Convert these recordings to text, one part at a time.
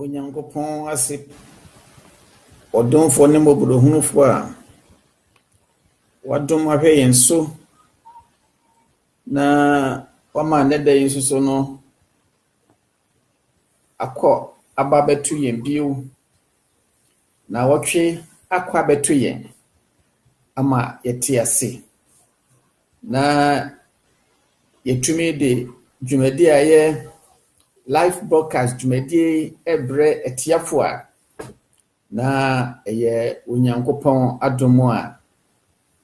Onyankopɔn ase, ɔdomfoɔ ne mmɔborɔhunufoɔ a wadom ahwɛ yɛn so na wama nnɛ da yi nso so no akɔ aba bɛto yɛn bio na wɔtwe akɔ abɛto yɛn ama yɛte ase. Na yɛtumi de dwumadie a ɛyɛ life broadcast dwumadie brɛ atiafoɔ a, na ɛyɛ Onyankopɔn adom a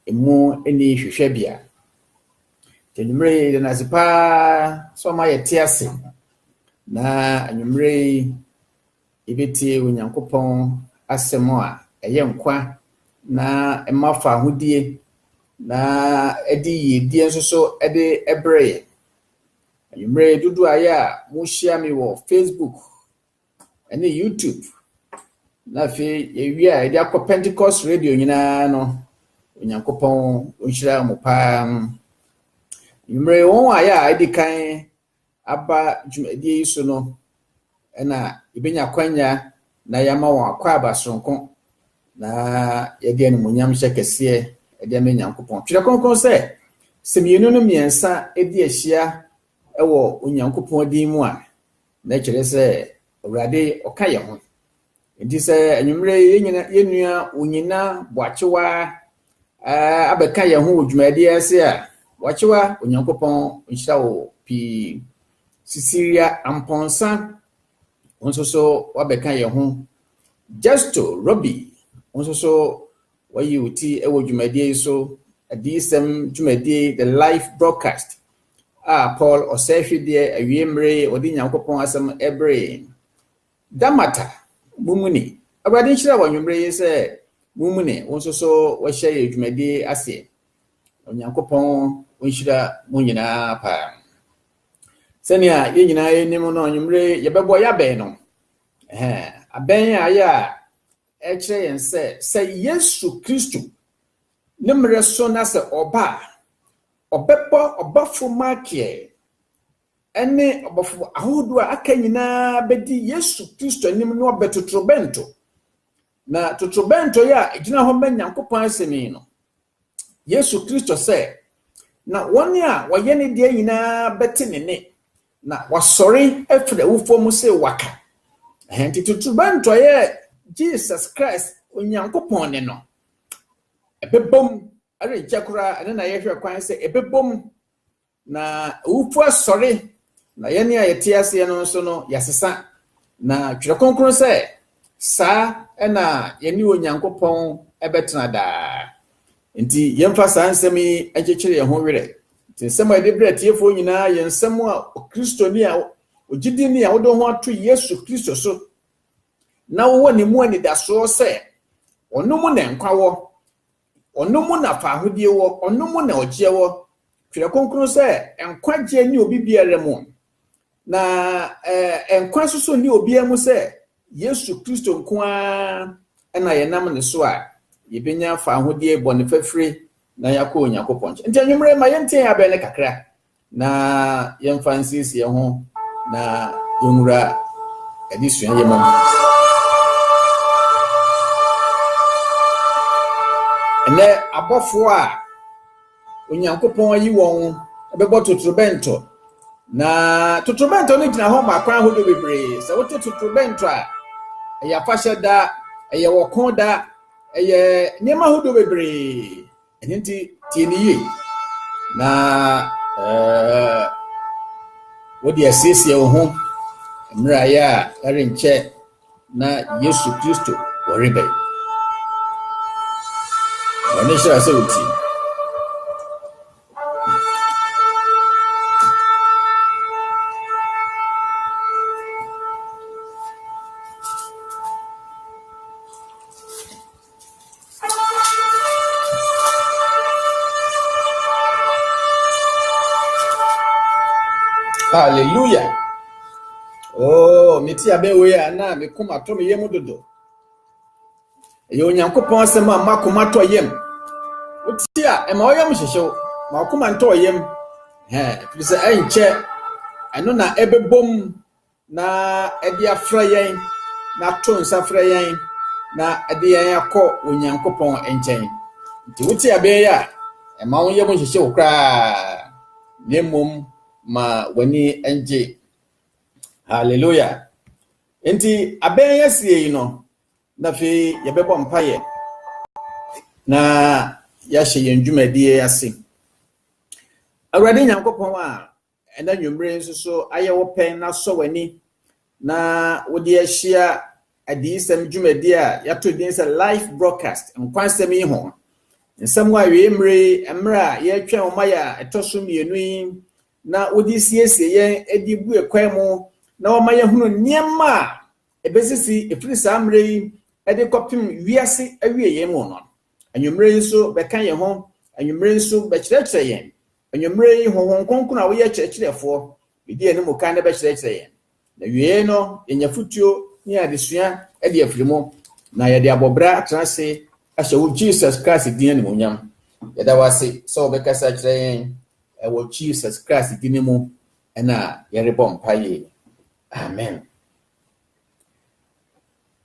ɛmu nni hwehwɛbea. Anwummerɛ yi, yɛda no ase paa sɛ ɔma yɛte ase. Na anwummerɛ yi, Yebetie Onyankopɔn Asɛm a ɛyɛ nkwa na ɛma fahodie na ɛde yiedie nso so de brɛ yɛn. Anwummere dodoɔ a ɛyɛ a mohyia me wɔ Facebook ne YouTube na afei yɛwie a yɛde akɔ Pentecost Radio nyinaa no, Onyankopɔn ɔnhyira mo paa. Anwummere wɔn a ɛyɛ a ɛdi kan aba dwumadie yi so no na yɛbɛnya akwanya na yɛama wɔn akwaaba soronko na yɛde animonyam hyɛ kɛseɛ de ama Nyankopɔn. Twerɛ Kronkron sɛ, sɛ mmienu no mmiɛnsa di ahyia wɔ Onyankopɔn din mu a, na ɛkyerɛ sɛ Awurade ɔka yɛn ho. Nti sɛ anwummerɛ yi yɛn nua Onyina Boakyewa abɛka yɛn ho wɔ dwumadie ase a, Boakyewa Onyankopɔn nhyira wo pii. Cecilia Amponsah wo nso so wabɛka yɛn ho. Justo Robbie wo nso so wayi wo ti wɔ dwumadie yi so. Adiyisɛm dwumadie The Life Broadcast a Paul Ɔsɛehwedeɛ awie mmere ɔde Nyankopɔn asɛm ɛberee. Damata, Mumuni, Awurade nhyira wo anwummere yi sɛ Mumuni, wo nso so woahyɛ yɛn dwumadi aseɛ. Onyankopɔn ɔnhyira mo nyinaa paa. Sɛnea yɛn nyinaa yɛnim no, anwummere yɛbɛbɔ yɛabɛn no. Ɛhɛn, abɛn a ayɛ a ɛkyerɛ yɛn sɛ sɛ Yesu Kristo ne mmerɛ so na sɛ ɔba a, ɔbɛbɔ ɔbɔfo Mikael ne abɔfo ahodoɔ a aka nyinaa bɛdi Yesu Kristo anim na wɔabɛ totorobɛnto. Na totorobɛnto yi a ɛgyina hɔ ma Nyankopɔn asɛm yi no, Yesu Kristo sɛ, na wɔn a wɔyɛ ne deɛ nyinaa bɛte ne nne, na wasɔre afiri awufoɔ mu sɛ waka. Ɛnti totorobɛnto yɛ Jesus Christ, Onyankopɔn ne no, ɛbɛbom ɛrenkyɛ koraa, ɛno na yɛhwɛ kwan sɛ ɛbɛbom. Na awufo asɔre, na yɛne a yɛte aseɛ no nso no yɛasesa. Na Twerɛ Kronkron sɛ, saa na yɛne Onyankopɔn bɛtena daa. Nti yɛmfa saa nsɛm yi nkyekyere yɛn ho werɛ. Nti nsɛm a yɛde brɛ atiefoɔ nyinaa yɛ nsɛm a Okristoni a, ogyidini a wode wo ho ato Yesu Kristo so na wowɔ ne mu anidasoɔ sɛ ɔno mu na nkwa wɔ, Ɔno mu na faahodie wɔ, Ɔno mu na ɔgyeɛ wɔ, Twerɛ Kronkron sɛ, Nkwagyeɛ nni obi biara mu, na eh, nkwa nso so nni obiara mu sɛ Yesu Kristo nko ara na yɛnam ne so a yɛbɛnya faahodie, bɔne fafire, na yɛakɔ Onyankopɔn nkyɛn. Nti anwummerɛ ma yɛntie yɛn abɛn no kakra, Na yɛmfa nsiesie yɛn ho na yɛnwura adesua yi mu. Ɛnɛ abɔfoɔ a Onyankopɔn ayi wɔn bɛbɔ totorobɛnto. Na totorobɛnto no gyina hɔ ma akwan ahodoɔ bebree. Sɛ wote totorobɛnto a, ɛyɛ afahyɛ da, ɛyɛ wɔko da, ɛyɛ nneɛma ahodoɔ bebree. Ɛno nti, tie no yie na eh, wode asiesie wo ho mmerɛ ayɛ a ɛrenkyɛ na Yesu Kristo wɔrebɛn. Ɔne hyira sɛ wotie. Hallelujah. Oh, me tia be we na me kuma to me yemu dodo. Ɛyɛ Onyankopɔn asɛm a makoma tɔ yam. Wotie a ɛma ɔyam hyehyew, ma ɔkoma ntɔ yam. Ɛfiri sɛ ɛnkyɛ ɛno na ɛbɛbom Na ɛde afrɛ yɛn, na ato nsa frɛ yɛn, na ɛde yɛn akɔ Onyankopɔn nkyɛn. Nti wote abɛn yi a, ɛma wo yam nhyehye wo koraa, na mmom ma w'ani ngye. Hallelujah. Nti abɛn yi asie yi no, na afei yɛbɛbɔ mpaeɛ na yɛahyɛ yɛn dwumadie ase. Awurade Nyankopɔn a Ɛnnɛ anwummere yi nso so ayɛ wo pɛn na sɔ w'ani na wode ahyia adiyisɛm dwumadi a yɛato din sɛ Life Broadcast, Nkwa Nsɛm yi ho. Nsɛm wɔ awiei mmere yi, mmere a yɛretwɛn ɔma yɛ a ɛtɔ so mmienu yi, na wode siesie yɛn de bue kwan mu na wɔma yɛhunu nneɛma a ɛbɛsisi ɛfiri saa mmere yi de kɔpem wiase awiei mu no. Anwummere yi nso bɛka yɛn ho, anwummere yi nso bɛkyerɛkyerɛ yɛn Anwummere yi, Honhom Kronkron a woyɛ Kyerɛkyerɛfoɔ bedi yɛne mu kan na bɛkyerɛkyerɛ yɛn. Na awiei no, yɛanya afotuo ne adesua de afiri mu, na yɛde abɔ bra atra ase ahyɛ wo Jesus Christ din animuonyam. Yɛda wo ase sɛ wobɛkasa akyerɛ yɛn wɔ Jesus Christ din mu na yɛrebɔ mpaeɛ. Amen.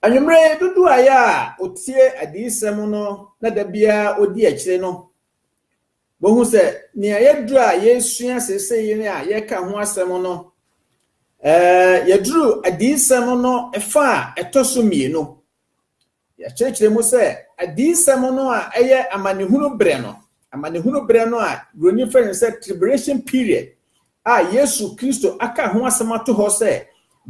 Anwummere yi, dodoɔ a yɛ a ɔtie adiyisɛm no na da biara ɔdi akyire no, Bohu sɛ nea yɛaduru a yɛresua seesei yi ne a yɛreka ho asɛm no, yɛaduru adiyisɛm no fa a ɛtɔ so mmienu. Yɛakyerɛkyerɛ mu sɛ adiyisɛm no a ɛyɛ amanehunu berɛ no, amanehunu berɛ no a Buroni frɛ no sɛ tribulation period a Yesu Kristo aka ho asɛm ato hɔ sɛ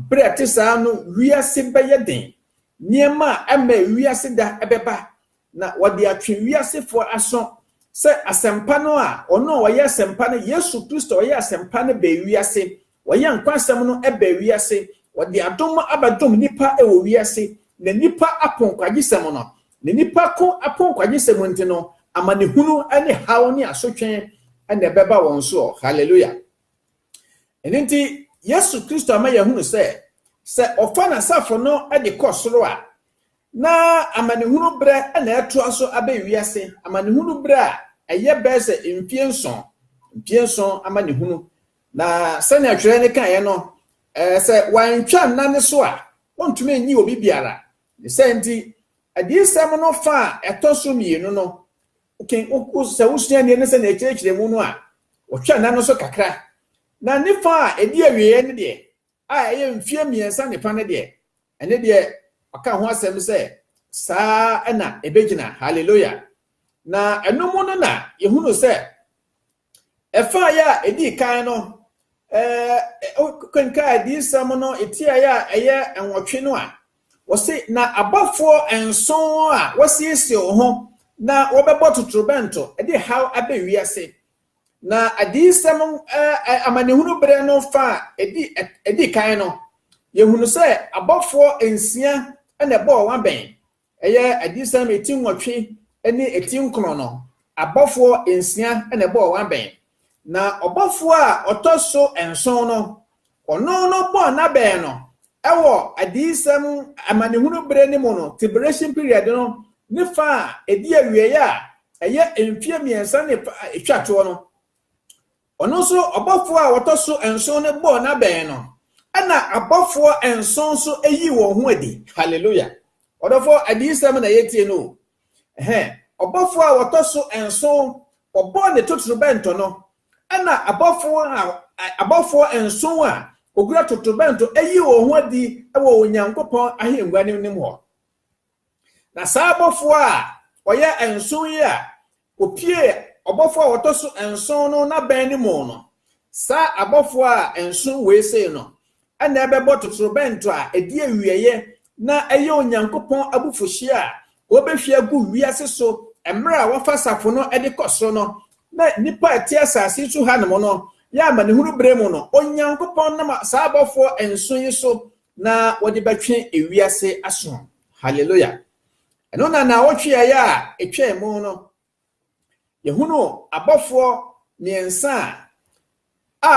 berɛ a ɛte saa no wiase bɛyɛ den, nneɛma a ɛma wiase da bɛba, na wɔde atwe wiasefoɔ aso sɛ asɛmpa no a ɔno a ɔyɛ asɛmpa no, Yesu Kristo ɔyɛ asɛmpa no bɛɛ wiase, ɔyɛ nkwasɛm no bɛɛ wiase, ɔde adom abɛdom nnipa wɔ wiase, na nnipa apo nkwagyesɛm no, na nnipa ko apo nkwagyesɛm nti no, amanehunu ne haw ne asotwe na ɛbɛba wɔn soɔ. Hallelujah. Ɛno nti, Yesu Kristo ama yɛahunu sɛ, sɛ ɔfa n'asafo no de kɔ soro a, Ná amanehunu bere na ɛtoa so abɛn wiase amanehunu bere a ɛyɛ bɛyɛ sɛ mfeɛ nson, mfeɛ nson amanehunu. Na sɛnea twerɛ no kaeɛ no, sɛ wɔantwa nna no so a, wɔntumi nnye obi biara. Ne sɛ nti, adiyisɛm no fa a ɛtɔ so mmienu no, sɛ wosua nneɛma sɛ na ɛkyerɛkyerɛ mu no a, wɔtwa nna no so kakra. Na ne fa a ɛdi awieeɛ no deɛ, a ɛyɛ mfeɛ mmiɛnsa ne fa no deɛ, ɛno deɛ ɔka ho asɛm sɛ saa na ɛbɛgyina. Haleluya! Na ɛno mu no na yɛhunu sɛ ɛfaeɛ a ɛdii kan no, wokenkaa adiyisɛm no ɛtiaeɛ a ɛyɛ nwɔtwe no a, wɔse na abɔfoɔ nson a wɔasiesie wɔn ho na wɔbɛbɔ totorobɛnto de haw aba wiase. Na Adiyisɛm amanehunu berɛ no fã a ɛdi kan no, yɛhunu sɛ abɔfoɔ nsia na ɛbɔɔ wɔn abɛn. Ɛyɛ Adiyisɛm ti nwɔtwe ne ti nkron no, abɔfoɔ nsia na ɛbɔɔ wɔn abɛn. Na ɔbɔfoɔ a ɔtɔ so nson no, Ɔno no bɔɔ n'abɛn no wɔ adiyisɛm amanehunu bere no mu no, tiberation period no ne fã a edi awiei a ɛyɛ mfe mmiɛnsa ne fã a etwa toɔ no. Ɔno nso ɔbɔfoɔ a ɔtɔ so nson no bɔɔ n'abɛn no, ɛnna abɔfoɔ nson nso yii wɔn ho adi. Hallelujah! Ɔdɔfoɔ, adiyisɛm na yɛretie no o. Ɛhɛn, ɔbɔfoɔ a ɔtɔ so nson, ɔbɔɔ ne totorobɛnto no, Ɛnna abɔfo a abɔfo nson a wokura totorobɛnto yii wɔn ho adi wɔ Onyankopɔn ahengua no anim hɔ. Na saa abɔfo a wɔyɛ nson yi a wopiee ɔbɔfo a ɔtɔ so nson no n'abɛn no mu no, saa abɔfo a nson wei sei no, Ɛnna ɛbɛbɔ totorobɛnto a edi awieeɛ na ɛyɛ Onyankopɔn abufuhyeɛ a wɔbɛhwie agu wiase so mmerɛ a wɔfa asafo no de kɔ soro no, na nnipa a ɛte asase so hanom no yɛ amanehunu berɛ mu no, Onyankopɔn nam saa abɔfoɔ nson yi so na wɔde bɛtwe ewiase aso. Haleluya! Ɛno na nnawɔtwe a ɛyɛ a ɛtwaam no Yɛhunu abɔfoɔ mmiɛnsa a a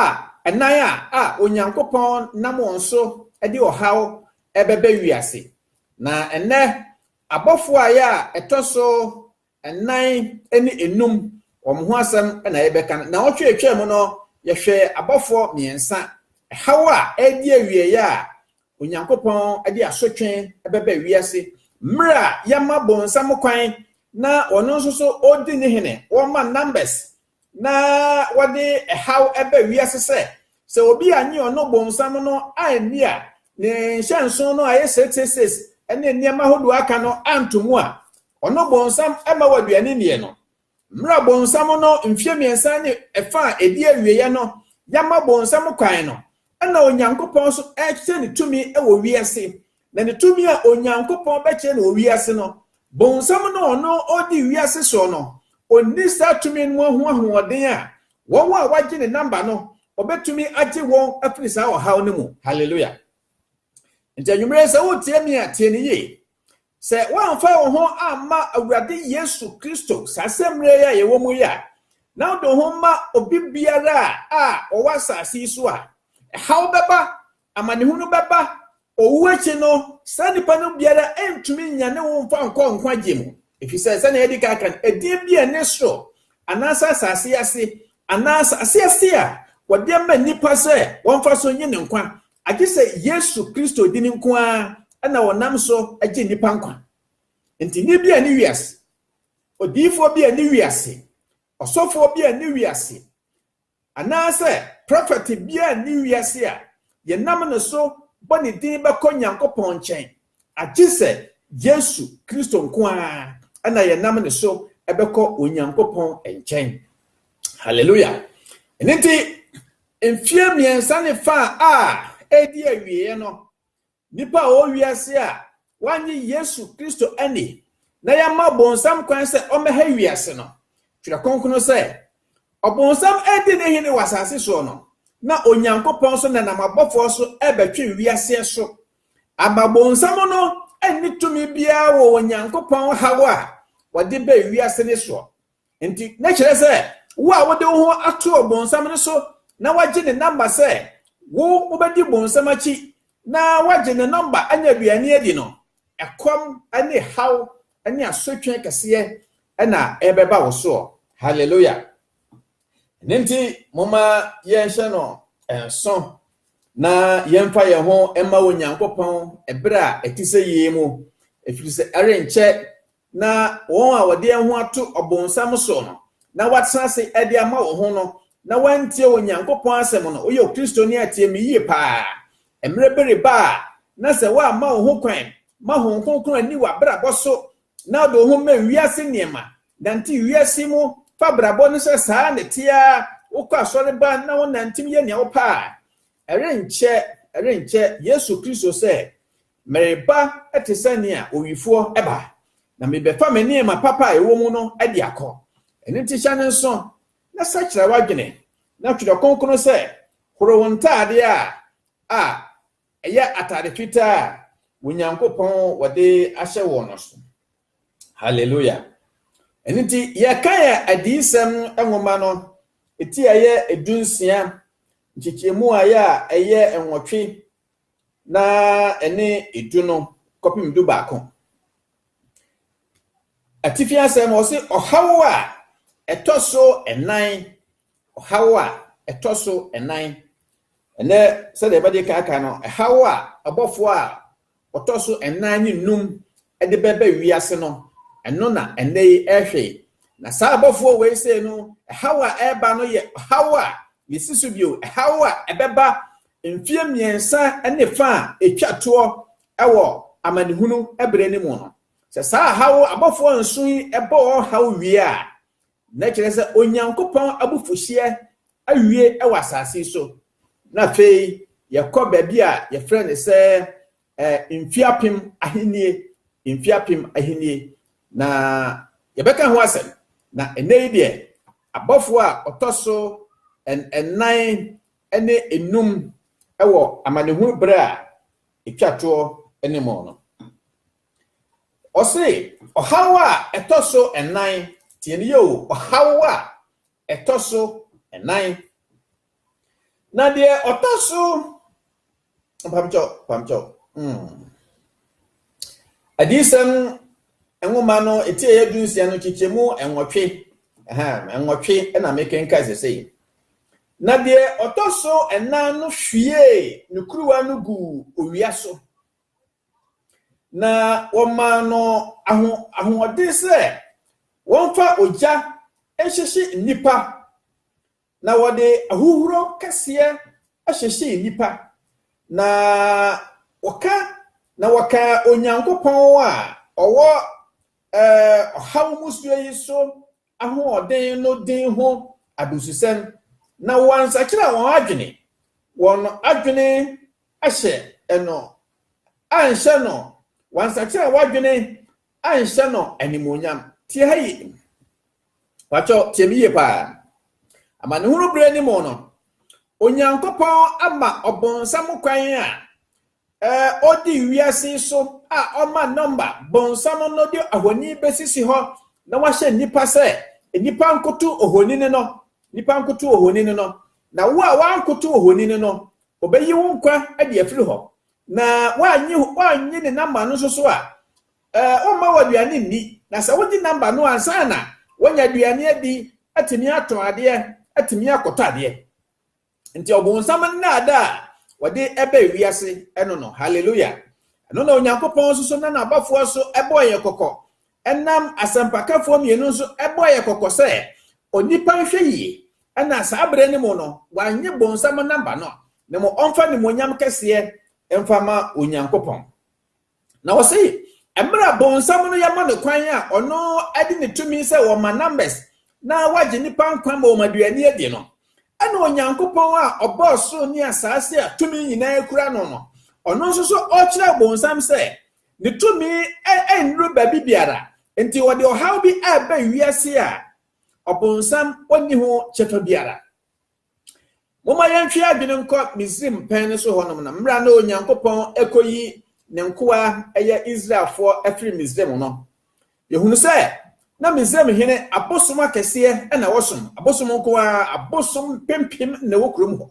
ɛnan a a Onyankopɔn nam wɔn so de ɔhaw ɛbɛbɛ wiase. Na ɛnnɛ abɔfoɔ a yɛ a ɛtɔ so ɛnan ne enum wɔn ho asɛm na yɛbɛka no. Na wɔtwe atwa mu no yɛhwɛ abɔfoɔ mmiɛnsa ɛhaw a ɛredi awieɛ a Onyankopɔn de asotwe bɛba wiase mmerɛ a yɛma bonsam kwan na ɔno nso so ɔdi ne hene, wɔma numbers na wɔde ɛhaw ba wiase sɛ sɛ obi anye ɔno bonsam no anni a ne nhyɛnso no a ɛyɛ 666 ne nneɛma hodoɔ aka no anto mu a ɔno bonsam ma wɔ aduane nniɛ no. Mmerɛ a bonsam no mfeɛ mmiɛnsa ne ɛfa a ɛdi awieɛ no yɛama bonsam kwan no, ɛna Onyankopɔn nso rekyerɛ ne tumi wɔ wiase. Na ne tumi a Onyankopɔn bɛkyerɛ no wɔ wiase no, bonsam no a ɔno ɔredi wiase soɔ no, ɔnni saa tumi no mu ho ahoɔden a wɔn a wɔagye ne namba no, ɔbɛtumi agye wɔn afiri saa ɔhaw no mu. Hallelujah. Nti anwummerɛ yi sɛ woretie me a, tie no yie. Sɛ woamfa wo ho amma Awurade Yesu Kristo saa asɛmmerɛ yi a yɛwɔ mu yi a, na wode wo ho ma obi biara a ɔwɔ asase yi so a, ɛhaw bɛba, amanehunu bɛba, owu akyi no, saa nipa no biara ntumi nnya ne wo mfa nkɔ nkwagye mu. Efisɛ sɛnea yɛadi kan aka no, edin bi a ɛne soro anaasɛ asase ase anaa asase ase a wɔde ama nnipa sɛ wɔmfa so nye ne nkwa Agye sɛ Yesu Kristo din nko ara na wɔnam so gye nnipa nkwa. Enti nne bi a ɛne wiase, odiyifoɔ bi a ɛne wiase, ɔsɔfoɔ bi a ɛne wiase, anaasɛ prɔfɛte bi a ɛne wiase a yɛnam ne so bɔ ne din bɛkɔ Nyankopɔn nkyɛn Agye sɛ Yesu Kristo nko ara na yɛnam ne so bɛkɔ Onyankopɔn nkyɛn. Hallelujah! Ɛno nti, mfeɛ mmiɛnsa ne fa a ɛredi awieeɛ no, nnipa a wɔwɔ wiase a wɔanye Yesu Kristo ani na yɛama bonsam kwan sɛ ɔmmɛha wiase no, Twerɛ Kronkron sɛ, Ɔbonsam adi ne hene wɔ asase soɔ no, na Onyankopɔn nso nenam abɔfoɔ so rebɛtwe wiaseɛ so Ama bonsam no nni tumi biara wɔ Onyankopɔn haw a wɔde ba wiase no soɔ. Nti, na kyerɛ sɛ wo a wode wo ho ato ɔbonsam no so na wagye ne namba sɛ wo wobɛdi bonsam akyi na wagye ne nɔmba anya aduane adi no, ɛkɔm ne haw ne asotwe kɛseɛ na ɛbɛba wo soɔ. Hallelujah! Ɛno nti, momma yɛnhyɛ no nso na yɛmfa yɛn ho mma Onyankopɔn ɛberɛ a ɛte sɛ yei mu, ɛfiri sɛ ɛrenkyɛ na wɔn a wɔde ho ato ɔbonsam so no, na wɔatena ase de ama wɔn ho no, na wɔantie Onyankopɔn asɛm no, woyɛ Kristoni a tie me yie paa. Mmerɛ bi reba a, na sɛ woamma wo ho kwan ma Honhom Kronkron anni w'abrabɔ so na ɔde wo ho ma wiase nneɛma, nante wiase mu, fa abrabɔ no sɛ saa na ɛte ara, wokɔ asɔre ba na wonantew yɛ nea wopɛ a, ɛrenkyɛ, ɛrenkyɛ Yesu Kristo sɛ, Mereba te sɛ nea owifoɔ ba, na mebɛfa me nneɛma papa a ɛwɔ mu no de akɔ. Ɛno nti hyɛ no nso, na sakyera w'adwene, na Twerɛ Kronkron sɛ, Horo wo ntaadeɛ a, a, Ɛyɛ atade fitaa a Onyankopɔn wɔde ahyɛ wɔn no so. Hallelujah. Ɛno nti, yɛka yɛ adiyisɛm nwoma no, ɛti a ɛyɛ edu nsia, nkyekyɛmu a ɛyɛ a ɛyɛ nwɔtwe, na ɛne edu no kɔpem du baako. Atifi asɛm ɔse ɔhaw a ɛtɔ so ɛnan Ɔhaw a ɛtɔ so nnan. Ɛnnɛ, sɛdeɛ yɛbɛgye kan aka no, ɛhaw a ɔbɔfoɔ a ɔtɔ so nnan ne num de bɛba wiase no, ɛno na ɛnnɛ yi ɛrehwe. Na saa ɔbɔfoɔ wei sei no, ɛhaw a ɛreba no yɛ ɔhaw a yɛsi so bio, ɛhaw a ɛbɛba mfeɛ mmiɛnsa ne fa a ɛtwa toɔ wɔ amanehunu berɛ no mu no. Sɛ saa haw abɔfoɔ nson yi bɔ wɔn haw wie a, na kyerɛ sɛ Onyankopɔn abufuhyeɛ awie wɔ asase yi so, na afei yɛkɔ baabi a yɛfrɛ no sɛ eh, mfie apem ahennie, mfie apem ahennie, na yɛbɛka ho asɛm. Na ɛnɛ yi deɛ, abɔfoɔ a ɔtɔ so nnan ne enum wɔ amanehunu berɛ a ɛtwa toɔ ne mu no. Ɔse ɔhaw a ɛtɔ so nnan, tie no yie o, ɔhaw a ɛtɔ so nnan. Na deɛ ɔtɔ so, mpamkyɛw, mpamkyɛw, mm. Adiyisɛm nwoma no eti ɛyɛ du nsia no kyekyɛmu nwɔtwe, ɛhɛn, nwɔtwe na mekenkan sesei. Na deɛ ɔtɔ so nnan no hwiee ne kuruwa no guu owia so. na wɔmaa no aho ahoɔden sɛ wɔmfa ogya nhyehye nnipa, na wɔde ahuhuro kɛseɛ hyehyee nnipa, na wɔka na wɔka Onyankopɔn a ɔwɔ ɛɛ ɔhaw mu suo yi so ahoɔden no din ho abususɛm, na wɔansakyera wɔn adwene, wɔn adwene ahyɛ no anhyɛ no, wansakyera w'adwene anhyɛ no animuonyam. Tie ha yie. Pakyɛ tie me yie paa. Amanehunu berɛ no mu no, Onyankopɔn ama ɔbonsam kwan a eh, ɔdi wiase so a ɔma nɔmba bonsam no de ahoni bɛsisi hɔ na wahyɛ nnipa sɛ nnipa nkoto ohonini no, nnipa nkoto ohonini no, na wo a wankoto ohonini no, Obeyi wo nkwa de afiri hɔ, na woannye ne namba no nso so a, ɔremma wo aduane nni. Na sɛ wogye namba no a, ansa na woanya aduane adi, atumi atɔn adeɛ, atumi akɔtɔ adeɛ. Nti ɔbonsam nnaadaa a wɔde ba wiase no no, hallelujah, ɛno na Onyankopɔn nso so nam n'abɔfoɔ so bɔɔ yɛn kɔkɔ Ɛnam asɛmpakafoɔ mmienu nso bɔɔ yɛn kɔkɔ sɛ, Onipa nhwɛ yie na saa berɛ no mu no wannye bonsam namba no, na mmom ɔmfa animuonyam kɛseɛ mfa ma Onyankopɔn. Na ɔse, mmerɛ a bonsam no yɛma no kwan a ɔno de ne tumi sɛ ɔma numbers na wagye nnipa nkwa ma wɔn aduane adi no, ɛna Onyankopɔn a ɔbɔɔ soro ne asaase a tumi nyinaa kura no no, ɔno nso so ɔrekyerɛ bonsam sɛ Ne tumi nnuru baabi biara, enti wɔde ɔhaw bi reba wiase a Ɔbonsam nni ho kyɛfa biara. Momma yɛntwe adwene nkɔ Misraim pɛn no so hɔnom no, mmerɛ a na Onyankopɔn rekɔyi ne nkoa ɛyɛ Israelfoɔ afiri Misraim no. Yɛhunu sɛ na Misraim hene abosom akɛseɛ na wɔsom, abosom nko ara, abosom mpempem na ɛwɔ kurom hɔ.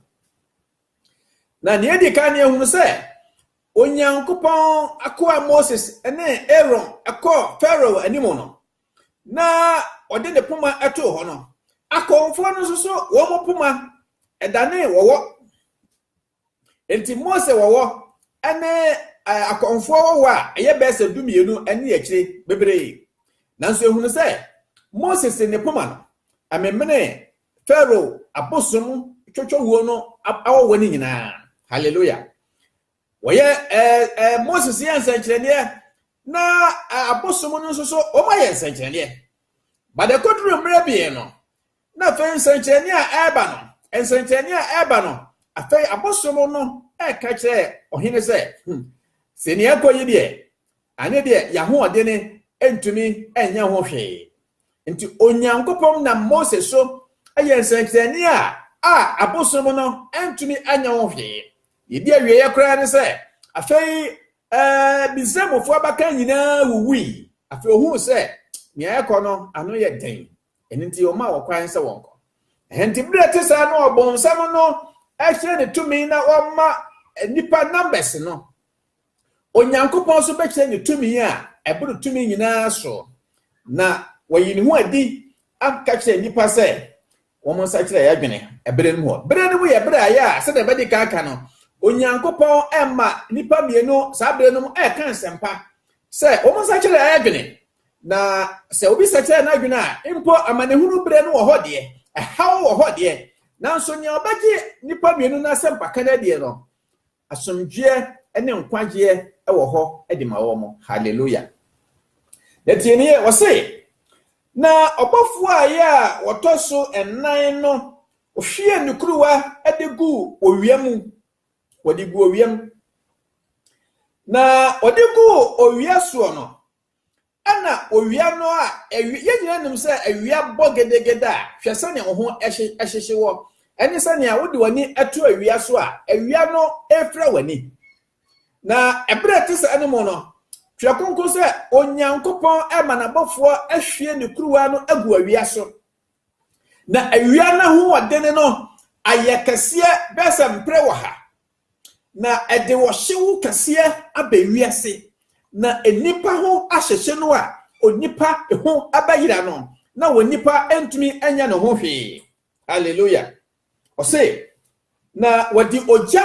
Na nea edi kan no, yɛhunu sɛ Onyankopɔn akoa Moses ne Aaron kɔɔ Farao anim no, na ɔde ne poma too hɔ no, akɔmfoɔ no nso so wɔn poma danee wɔwɔ. Enti Mose wɔwɔ ne akɔmfoɔ wɔwɔ a ɛyɛ bɛyɛ sɛ dumienu ne akyire bebree. Nanso yɛhunu sɛ Moses ne poma no, ɛmemenee Pharaoh abosom twotwo wuo no awɔwɔ no nyinaa. Hallelujah. Wɔyɛ ɛɛ ɛɛ Moses yɛ nsɛnkyerɛnneɛ na abosom no nso so wɔn ayɛ nsɛnkyerɛnneɛ. Badekoduru mmerɛ bie no na afei nsɛnkyerɛnneɛ a ɛreba no nsɛnkyerɛnneɛ a ɛreba no afei abosom no ɛreka kyerɛ ɔhene sɛ hmm sɛ nea ɛkɔ yi deɛ ane deɛ yɛahoɔdene ntumi nyɛ ho hwee Enti Onyankopɔn nam Mose so yɛɛ nsɛnkyerɛnne a a abosom no antumi anyɛ ho hwee. Yedi awieeɛ koraa ne sɛ, afei Misraimfoɔ abakan nyinaa wuwui. Afei ohuu sɛ nea ɛrekɔ no ano yɛ den, ɛno nti ɔmaa wɔn kwan sɛ wɔnkɔ. Ɛnti bere te saa no ɔbonsam no hyerɛn ne tumi na ɔma nnipa numbers no. Onyankopɔn nso bɛkyerɛ ne tumi a ɛboro tumi nyinaa so, na wayi ne ho adi aka kyerɛ nnipa sɛ wɔn nsakyera yɛ adwene ɛberɛ no mu hɔ. Berɛ no mu yɛ berɛ a yɛ a sɛdeɛ ɛbɛdi kan ka no, Onyankopɔn ɛma nnipa mmienu saa berɛ no mu ɛka nsɛmpa sɛ wɔn nsakyera yɛ adwene, na sɛ obi sakyera n'adwene a mpo amanehunu berɛ no wɔ hɔ deɛ, ɛhaw wɔ hɔ deɛ, nanso nea ɔbɛgye nnipa mmienu no asɛmpaka no adie no, Asomdwoeɛ ne nkwagyeɛ wɔ hɔ de ma wɔn. Hallelujah. Na tie ne yɛ, wɔse, Na ɔbɔfoɔ a ɛyɛ a wɔtɔ so nnan no hwiee ne kuruwa de gu owia mu, wɔde gu owia mu. Na wɔde gu owia soɔ no, Ɛna owia no a ɛwe, yɛn nyinaa nim sɛ awia bɔ gedegede a, hwɛ sɛnea wo ho hyehye wɔ. Ɛne sɛnea wode w'ani to awia so a, awia no refira w'ani. Na ɛberɛ ɛte saa no mu no, Twerɛ Kronkron sɛ Onyankopɔn ma n'abɔfoɔ ahwie ne kuruwa no agu awia so. Na awia no ahoɔdene no ayɛ kɛseɛ bɛyɛ sɛ mprɛ wɔ ha. Na ɛde ɔhyew kɛseɛ aba wiase, na nnipa ho ahyehye no a onipa ho bɛyera no, na onipa ntumi nyɛ ne ho hwee. Hallelujah. Ɔse, na wɔde ogya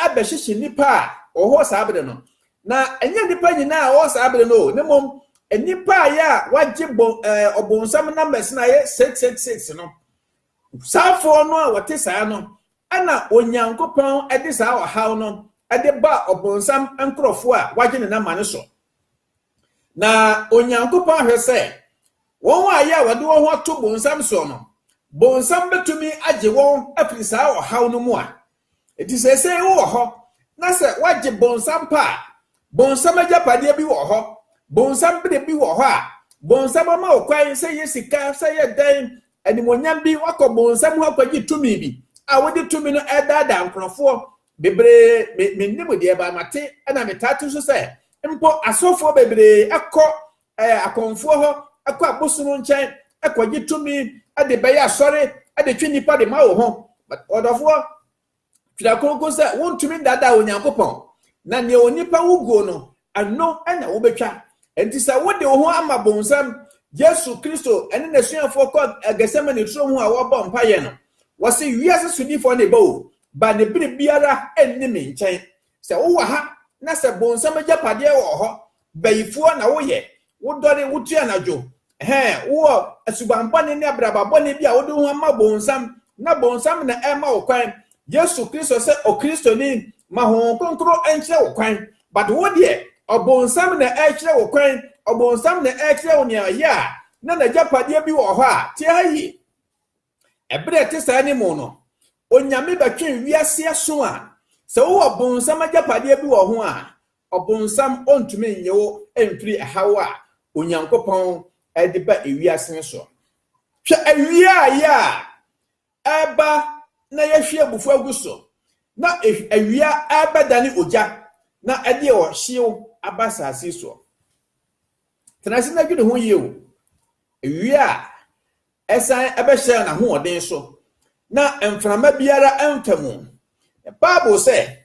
abɛhyehye nnipa a wɔwɔ hɔ saa bere no. Na ɛnyɛ nnipa nyinaa a wɔwɔ saa bere no o, na mmom nnipa a yɛ a wɔagye bɔ ɛɛ ɔbonsam numbers no a ɛyɛ six six six no. Saafoɔ no a wɔte saa no, ɛna Onyankopɔn de saa ɔhaw no de baa ɔbonsam nkorɔfoɔ a wɔagye ne nama no so. Na Onyankopɔn hwɛ sɛ, wɔn a ɛyɛ a wɔde wɔn ho ato bonsam soɔ no, bonsam bɛtumi agye wɔn afiri saa ɔhaw no mu a Enti seesei wowɔ hɔ, na sɛ woagye bonsam pa a, bonsam agyapadeɛ bi wɔ hɔ, bonsam bere bi wɔ hɔ a, bonsam ama wo kwan sɛ yɛ sika, sɛ yɛ dan, animuonyam bi, woakɔ bonsam hɔ akɔgye tumi bi a wode tumi no ɛredaadaa nkorɔfoɔ bebree. Me, mennim deɛ, baa mate, ɛna metaa to so sɛ, mpo asɔfoɔ bebree kɔ ɛɛ akɔmfoɔ hɔ, ɛkɔ abosono nkyɛn, ɛkɔgye tumi de bɛyɛ asɔre de twe nnipa de ma wo ho. Ɔdɔfoɔ, twerɛ kronkron sɛ wontumi nnaadaa Onyankopɔn. Na nea onipa wo guo no, ɛno na wobɛtwa. Enti sɛ wode wo ho ama bonsam, Yesu Kristo ne n'asuafoɔ kɔ Gethsemane turo ho a wɔbɔ mpaeɛ no, wɔse wiase sodifoɔ na ɛbɔ o, ba ne bere biara nni me nkyɛn. Sɛ wowɔ ha na sɛ bonsam agyapadeɛ wɔ hɔ bayifoɔ na woyɛ, wodɔre, wotu anadwo, ɛhɛɛ, wowɔ suban bɔne ne abraba bɔne bi a wode wo ho ama bonsam na bonsam na ɛrema wo kwan, Yesu Kristo sɛ Okristoni, ma Honhom Kronkron nkyerɛ wo kwan. But wo deɛ, ɔbonsam na ɛrekyerɛ wo kwan, ɔbonsam na ɛrekyerɛ wo nea ɔyɛ a, na n'agyapadeɛ bi wɔ hɔ a, tie ha yie. Ɛberɛ a ɛte saa no mu no, Onyame bɛtwe wiase aso a sɛ wowɔ ɔbonsam agyapadeɛ bi wɔ ho a, ɔbonsam ɔntumi nnye wo mfiri ɛhaw a Onyankopɔn de ba ewiase no so. Hwɛ awia a yɛ a ɛreba na yɛhwie abufuo agu so, na awia ɛrebɛdane ogya na ɛde ɔhyew aba asase soɔ. Tena ase na dwene ho yie o. Awia a Ɛsan bɛhyɛɛ n'ahoɔden so, na mframa biara mfa mu. Bible sɛ,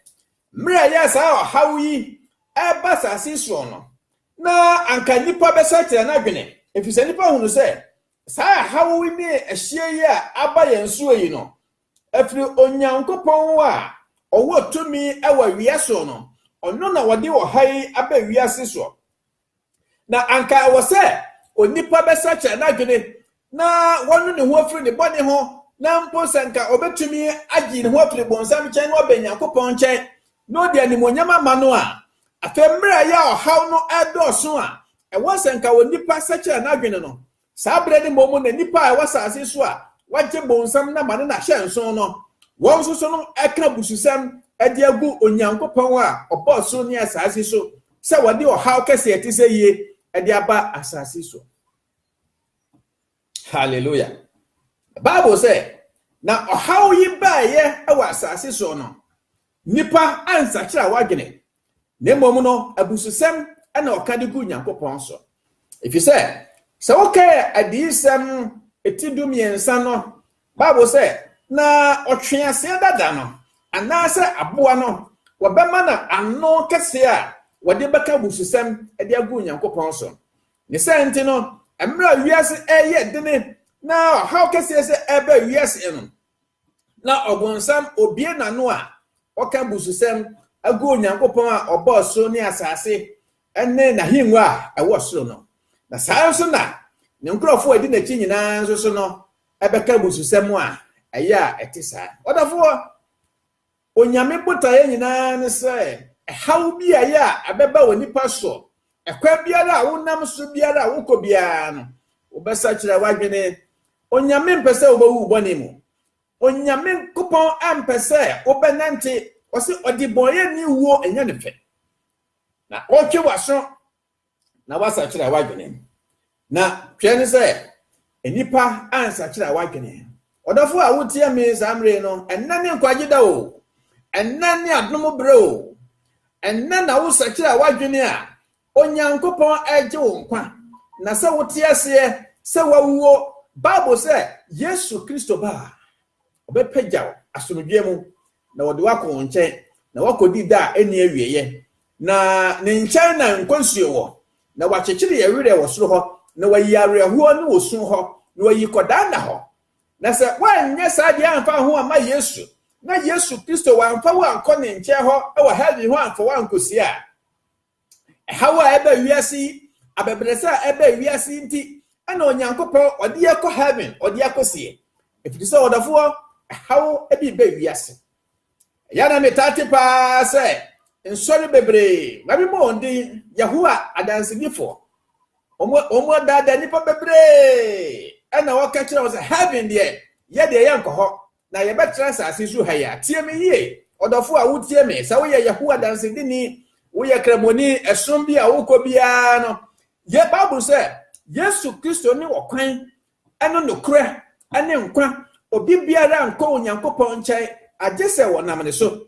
Mmerɛ a ɛyɛ a saa ɔhaw yi reba asase yi soɔ no, na anka nnipa bɛsakyera n'adwene, ɛfiri sɛ nnipa hunu sɛ saa ɛhaw yi ne ɛhyeɛ yi a aba yɛn soɔ yi no firi Onyankopɔn a ɔwɔ tumi wɔ awia soɔ no, ɔno na ɔde ɔha yi aba wiase soɔ. Na anka ɛwɔ sɛ onipa bɛsakyera n'adwene na wɔnu ne ho afiri ne bɔne ho, na mpo sɛ anka ɔbɛtumi agye ne ho afiri bonsam nkyɛn na wabɛn Nyankopɔn nkyɛn na ɔde animuonyam ama no a. Afei mmerɛ a ɛyɛ a ɔhaw no redɔɔso a ɛwɔ sɛ anka onipa sakyera n'adwene no, Saa bere no mmom na nnipa a ɛwɔ asase so a wɔagye bonsam no amane no ahyɛ nsow no, wɔn nso so no reka abususɛm de agu Onyankopɔn a ɔbɔɔ soro ne asase so sɛ wɔde ɔhaw kɛse a ɛte sɛ yie de aba asase so. Hallelujah. Bible sɛ, na ɔhaw yi baeɛ wɔ asase so no, nnipa ansakyera wɔadwene, na mmom no, abususɛm na ɔka de gu Nyankopɔn so. Efisɛ, sɛ woka adiyisɛm ti dumiɛnsa no, Bible sɛ, Na ɔtweaseɛ dada no, anaasɛ aboa no, wɔbɛma no ano kɛseɛ a wɔde bɛka abususɛm de agu Nyankopɔn so. Ne sɛ nti no, mmerɛ a wiase ɛreyɛ dene na ɔhaw kɛseɛ sɛ ɛreba wiase no, na ɔbonsam obue n'ano a ɔka abususɛm gu Onyankopɔn a ɔbɔɔ soro ne asase ne n'ahengua a ɛwɔ soro no. Na saa ara nso na ne nkurɔfo a ɛdi n'akyi nyinaa nso so no bɛka abususɛm a ɛyɛ a ɛte saa. Ɔdɔfoɔ, Onyame botaeɛ nyinaa ne sɛ haw biaeɛ a ɛbɛba onipa so, ɛkwan biara a wonam so biara a wokɔ biara no, wobɛsakyera w'adwene. Onyame mpɛ sɛ wobɛwu wo bɔne mu. Onyame Nkopɔn ampɛ sɛ wobɛnante, ɔse ɔdebɔneyɛni wuo ɛnyɛ ne fɛ. Na ɔretwe w'aso na woasakyera w'adwene. Na hwɛ ne sɛ nnipa ansakyera w'adwene. Ɔdɔfo a wotie me saa mmerɛ yi no, ɛnnɛ ne nkwagye da o, ɛnnɛ ne adom berɛ o, ɛnnɛ na wosakyera w'adwene a, Onyankopɔn regye wo nkwa. Na sɛ wote aseɛ sɛ woawuo, Bible sɛ Yesu Kristo ba a, ɔbɛpagya wo asomdwoeɛ mu Na wɔde wo akɔ wɔn nkyɛn, na woakɔdi da a ɛnni awieeɛ, na ne nkyɛn na nkwa nsuo wɔ, na wakyekyere yɛn werɛ wɔ soro hɔ, na wayi awerɛhoɔ ne osu hɔ, na wayi kɔdaa nna hɔ. Na sɛ woanyɛ saa deɛ amfa ho amma Yesu, na Yesu Kristo wamfa wo ankɔ ne nkyɛn hɔ wɔ hell yi ho amfa wo ankɔsie a, Ɛhaw a ɛba wiase yi, abɛbrɛsɛ a ɛba wiase yi nti, ɛna Onyankopɔn ɔde yɛ kɔ heaven, ɔde akɔ sie. Ɛfiri sɛ ɔdɔfoɔ, ɛhaw bi ba wiase. Ɛyɛ na metaa te paa sɛ nsɔre bebree wɔbɛbɔ wɔn din Yehowa adansidifoɔ. Wɔn adaadaa nnipa bebree ɛna wɔka kyerɛ wɔn sɛ heaven deɛ yɛ deɛ yɛnkɔ hɔ. na yɛbɛtra asase so ha yi a, tie me yie, ɔdɔfo a wotie me. Sɛ woyɛ Yehowa dansedini, woyɛ kramoni, ɛsom bi a wokɔ biara no, yɛ Bible sɛ Yesu Kristo ne ɔkwan, ɛne nokorɛ, ɛne nkwa. Obi biara nkɔ Onyankopɔn nkyɛn agye sɛ wɔnam ne so.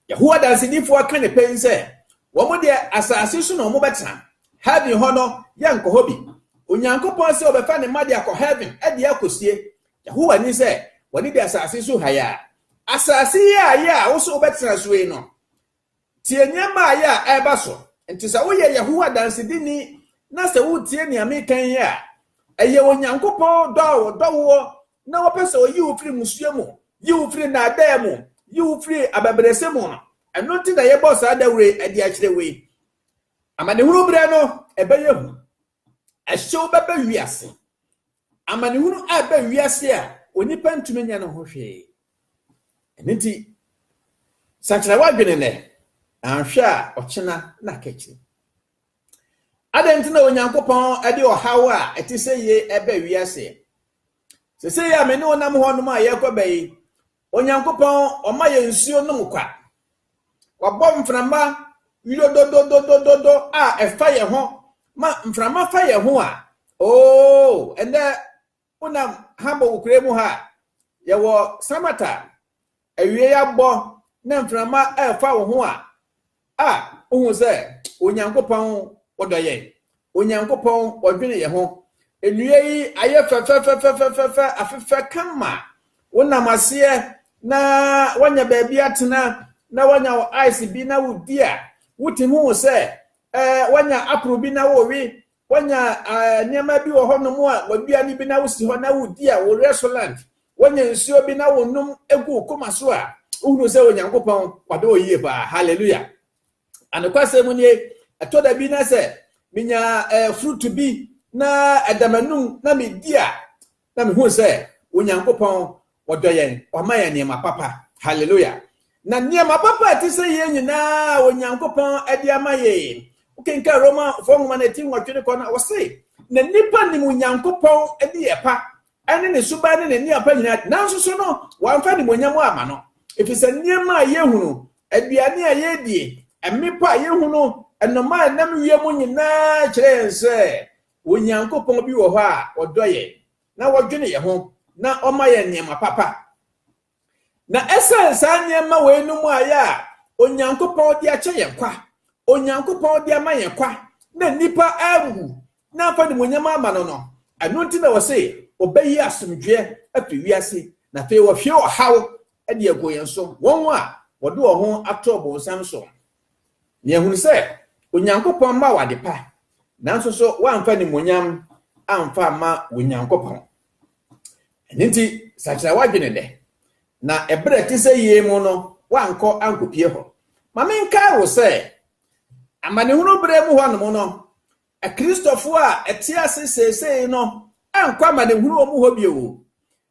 Yehowa Danseni fo aka ne pɛn sɛ, Wɔn deɛ, asase so na wɔbɛtena. Heaven hɔ no, yɛnkɔ hɔ bi. Onyankopɔn se ɔbɛfa ne mma de akɔ Heaven de akosie. Yehowa nim sɛ, wɔne di asase so ha yi ara. Asase yi a yɛ a wo se wobɛtena so yi no, tie nneɛma a yɛ a ɛreba so. Enti sɛ woyɛ Yehowa Danseni na sɛ wotie nea meka yi a, ɛyɛ Onyankopɔn dɔ a ɔdɔ woɔ na wɔpɛ sɛ ɔyi wo firi mmusua mu, yi wo firi nnaadaa mu, yi wo firi abɛbrɛsɛ mu no. Ɛno nti na yɛbɔ saa dawuro yi ɛde akyerɛ wo yi. Amanehunu berɛ no ɛbɛyɛ hu. Ɛhyew bɛbɛ wiase. Amanehunu a ɛbɛ wiase a onipa ntumi nyɛ no ho hwee. Ɛno nti sakyera w'adwene nɛ, anhwɛ a ɔkyena na akakyiri. Adɛn nti na Onyankopɔn ɛde ɔhaw a ɛte sɛ yie ɛbɛ wiase? Seesei a me ne wo nam hɔnom a yɛrekɔba yi, Onyankopɔn, ɔma yɛ nsuo nom kwa. Wabɔ mframa wirodododododo a ɛfa yɛ ho ma mframa fa yɛ ho a, oo, ɛnɛ wonam Hamburg kure mu ha a, yɛwɔ Samata Awiei abɔ na mframa refa wo ho a, a, wohu sɛ Onyankopɔn ɔdɔ yɛn. Onyankopɔn ɔdwene yɛn ho. Nnua yi ayɛ fɛfɛfɛfɛfɛfɛ, afefɛ kama. Wonam aseɛ na woanya baabi atena na woanya wo ice bi na wodi a, wotumi hu sɛ eh, woanya aporo bi na wowe Wonya nneɛma bi wɔ hɔnom a wɔadua no bi na wosi hɔ na wodi a, wo werɛ so land. Wonya nsuo bi na wonom gu wo koma so a, wohunu sɛ Onyankopɔn wadɔ wo yie paa. Hallelujah. Anokwasɛm mu nie, ɛtɔ da bi na sɛ menya eh, fruit bi na ɛda m'anum na medi a, Na mehuu sɛ Onyankopɔn ɔdɔ yɛn, wama yɛn nneɛma papa. Hallelujah! Na nneɛma papa a ɛte sɛ yei nyinaa a Onyankopɔn de ama yɛn, wokenkan Romafoɔ nwoma no ti nwɔtwe no kɔ no, ɔse, na nnipa nim Onyankopɔn nneyɛɛ pa ne ne suban ne ne nneɛma pa nyinaa de, nanso so no wɔamfa animuonyam amma no, ɛfiri sɛ nneɛma a yɛhunu, aduane a yɛdie, mmepɔ a yɛhunu, nnomaa a ɛnam wiem nyinaa kyerɛ yɛn sɛ Onyankopɔn bi wɔ hɔ a ɔdɔ yɛn na ɔdwene yɛn ho na ɔma yɛn nneɛma papa. Na ɛsiane saa nneɛma wei no mu ayɛ a Onyankopɔn de akyɛ yɛn kwa, Onyankopɔn de ama yɛn kwa, na nnipa awu na amfa animuonyam ama no no, ɛno nti na ɔse ɔbɛyi asomdwoeɛ afiri wiase, na afei wahwie ɔhaw de agu yɛn so. Wɔn a wɔde wɔn ho ato ɔbonsam so Nea yɛahu ne sɛ, Onyankopɔn mma wo adepa, nanso nso woamfa animuonyam amfa amma Onyankopɔn. Ɛno nti, sakyera w'adwene nnɛ, na ɛberɛ a ɛte sɛ yei mu no, woankɔ ankɔpie hɔ. Ma menkae wo sɛ, amanehunu berɛ mu hɔnom no, Akristofoɔ a ɛte ase seesei no ankɔ amanehunu wɔ mu hɔ bio.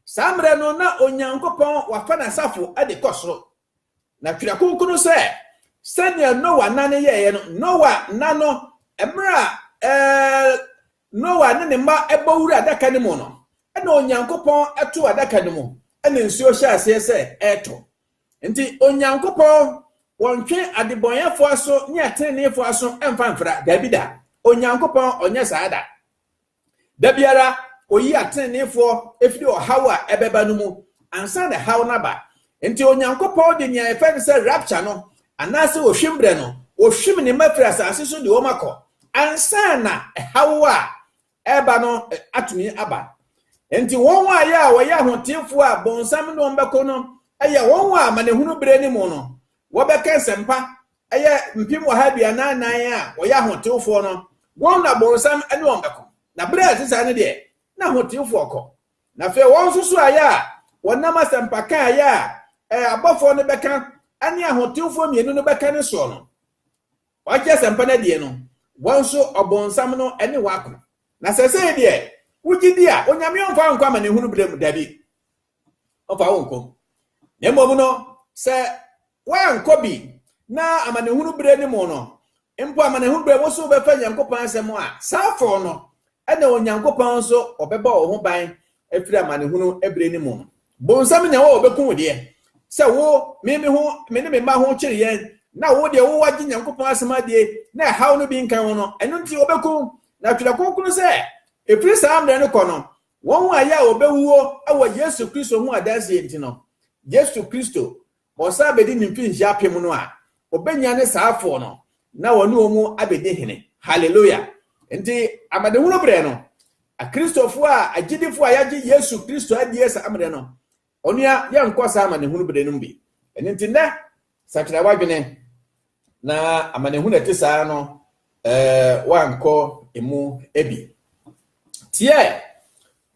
Saa mmerɛ no, na Onyankopɔn wafa n'asafo de kɔ soro. Na Twerɛ Kronkron no sɛ, Sɛdeɛ Noa nna no yɛeɛ no, Noa nna no, mmerɛ a ɛɛ, Noa ne ne mma bɔ wura adaka no mu no, ɛna Onyankopɔn too adaka no mu, ɛna nsuo hyɛɛ aseɛ sɛ ɛretɔ. Nti Onyankopɔn, wɔntwe adebɔnyɛfoɔ aso ne ateneneefoɔ aso mfa mfra, daabi da. Onyankopɔn, ɔnyɛ saa da. Da biara, oyi atreneefoɔ firi ɔhaw a ɛbɛba no mu ansa na haw no aba. Enti Onyankopɔn de nea yɛfrɛ no sɛ rapture no, anaasɛ ohwim berɛ no, ohwim ne mma firi asase so de wɔn akɔ ansa na haw a ɛreba no atumi aba. Enti wɔn a yɛ a wɔyɛ ahoteefoɔ a bonsam ne wɔn bɛko no yɛ wɔn a amanehunu berɛ no mu no, wɔbɛka nsɛmpa ɛyɛ mpem ɔha aduanan nan a wɔyɛ ahotewfoɔ no, wɔn na bonsam ne wɔn bɛko. Na berɛ a ɛte saa no deɛ, na ahotewfoɔ kɔ. Na afei wɔn nso so ayɛ a wɔnam asɛmpa ka a ɛyɛ a abɔfoɔ no bɛka ne ahotewfoɔ mmienu no bɛka no soɔ no, wɔagye asɛmpa no adie no, wɔn nso ɔbonsam no ne wɔn ako. Na sɛsei deɛ, wogye di a Onyame ɔmfa wɔn nkɔ amanehunu berɛ mu? Dabi. ɔmfa wo nkɔ na mmom no sɛ woankɔ bi na amanehunu berɛ no mu no mpo amanehunu berɛ wo so wobɛfa nyankopɔn asɛm a saa fɔɔ no ɛna onyankopɔn nso ɔbɛbɔ wo ho ban afiri amanehunu berɛ no mu no bonsam nya wɔ ɔbɛku wo deɛ sɛ wo me me ho me ne me mma ho kyere yɛn na wo deɛ wowɔ agye nyankopɔn asɛm adie na ɛhaw no bi nka ho no ɛno nti ɔbɛku na twerɛ kronkron sɛ ɛfiri saa mmerɛ no kɔ no Wɔn a yɛ a wɔbɛwuo wɔ Yesu Kristo ho adanseɛ nti no, Yesu Kristo, ɔsan bɛdi ne mfirinhyia apem no a, ɔbɛnyane saa afoɔ no na ɔne wɔn abɛdi hene. Haleluia! Nti amanehunu berɛ no, Akristofoɔ a, agyidifoɔ a yɛagye Yesu Kristo adie saa mmerɛ no, Onua, yɛnkɔ saa amanehunu bere no bi. Ɛno nti, nnɛ, sakyera w'adwene, na amanehunu a ɛte saa ara no, ɛɛ, woankɔ emu bi. Tie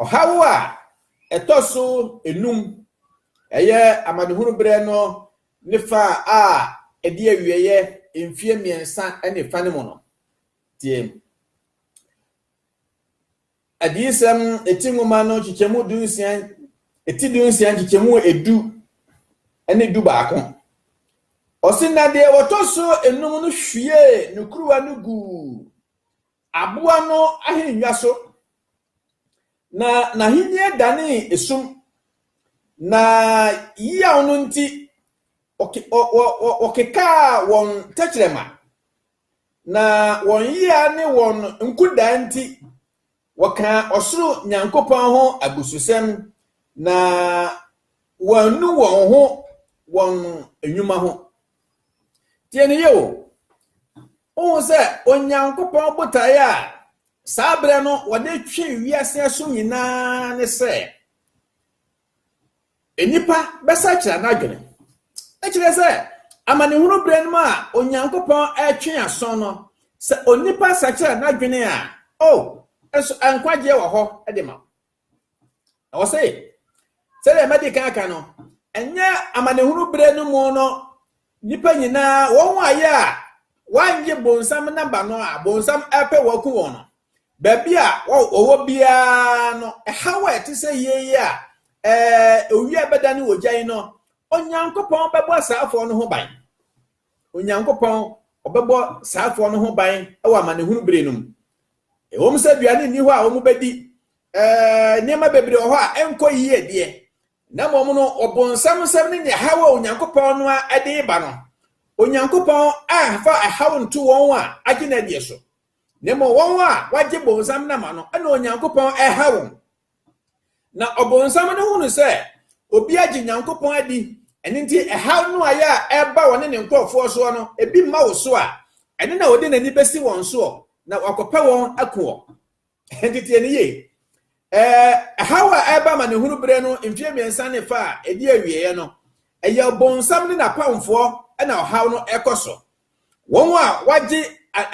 ɔhaw a ɛtɔ so enum, ɛyɛ amanehunu bere no ne fa a ɛde awieɛ mfie mmiɛnsa ne fa no mu no. Tie. Adiyisɛm ti nwoma no nkyekyɛmu dunsia, ti dunsia nkyekyɛmu edu ne du baako. Ɔse na deɛ wɔtɔ so enum no hwiee ne kuruwa no guu aboa no ahennwa so, na n'ahennie danee esum, na yaw no nti wɔkekaa wɔn tɛkyerɛma Na wɔn yea ne wɔn nkodaa nti, wɔkaa ɔsoro Nyankopɔn ho abususɛm, na wɔannu wɔn ho wɔn nnwuma ho. Tie no yie o. Wohu sɛ Onyankopɔn botaeɛ a saa berɛ no wɔde twe wiase aso nyinaa ne sɛ Nnipa bɛsakyera n'adwene. Ɛkyerɛ sɛ, amanehunu berɛ no mu a Onyankopɔn retwe asɔn no, sɛ onipa sakyera n'adwene a, o, nso nkwagyeɛ wɔ hɔ de ma. Na wɔse, sɛdeɛ madi kan aka no, ɛnyɛ amanehunu berɛ no mu no nnipa nyinaa, wɔn a yɛ a wɔanye bonsam namba no a bonsam ɛpɛ wɔku wɔn no, baabi a wɔwɔ biara no, ɛhaw a ɛte sɛ yei a owia bɛda ne ogya yi no, Onyankopɔn bɛbɔ asaafoɔ no ho ban. Onyankopɔn ɔbɛbɔ saafoɔ no ho ban wɔ amanehunu bere no mu. Ɛwom sɛ aduane nni hɔ a wɔbɛdi, nneɛma bebree wɔ hɔ a ɛnkɔ yie deɛ, na mmom no ɔbonsam nsɛm ne nea haw a Onyankopɔn no a de ba no, Onyankopɔn amfa ɛhaw nto wɔn a agye no adie so. na mmom wɔn a wɔagye bonsam nam ano na Onyankopɔn ɛha wɔn. Na ɔbonsam no hunu sɛ obi agye Nyankopɔn adi, ɛno nti ɛhaw no ayɛ a ɛba wɔne ne nkurɔfoɔ soɔ no, ebi mma wo so a, ɛno na ɔde n'ani bɛsi wɔn soɔ, na wakɔpɛ wɔn ako wɔ. Ɛnti tie ne yie. Ɛhaw a ɛba ma ne hunu berɛ no mfie mmiɛnsa ne fa a ɛdi awieɛ no, ɛyɛ ɔbonsam ne n'apamfoɔ na ɔhaw no ɛkɔ so. Wɔn a wɔagye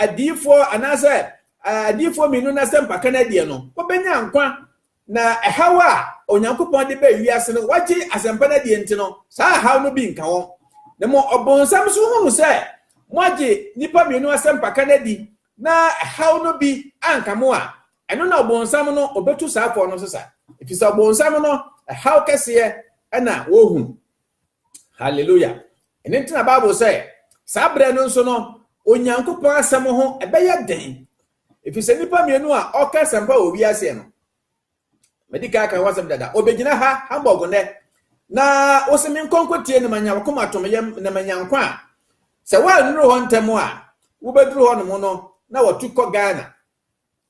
adiyifoɔ anaasɛ adiyifoɔ mmienu no asɛmpaka no adie no, wɔbɛnya nkwa, na ɛhaw a Onyankopɔn de bɛɛ wiase no, wɔagye asɛmpa no adie nti no, saa ɛhaw no bi nka wɔn. Na mo ɔbonsam nso hunu sɛ moagye nnipa mmienu asɛmpaka no adi na ɛhaw no bi anka mo a, ɛno na ɔbonsam no ɔbɛtu saafoɔ no sesa, ɛfiri sɛ ɔbonsam no ɛhaw kɛseɛ na wɔhunu. Hallelujah. Ɛno nti na Bible sɛ saa berɛ no nso no Onyankopɔn asɛm ho ɛbɛyɛ den. Ɛfiri sɛ nnipa mmienu a ɔka asɛmpa wɔ wiaseɛ no, madi kan aka ho asɛm dada, ɔbɛgyina ha Hamburg nnɛ na ɔsɛ me nkɔnkɔtie na manya wakoma tom yam na manya nkwa a sɛ woannuru hɔ ntɛm a wobɛduru hɔ nom no na wɔtu kɔ Ghana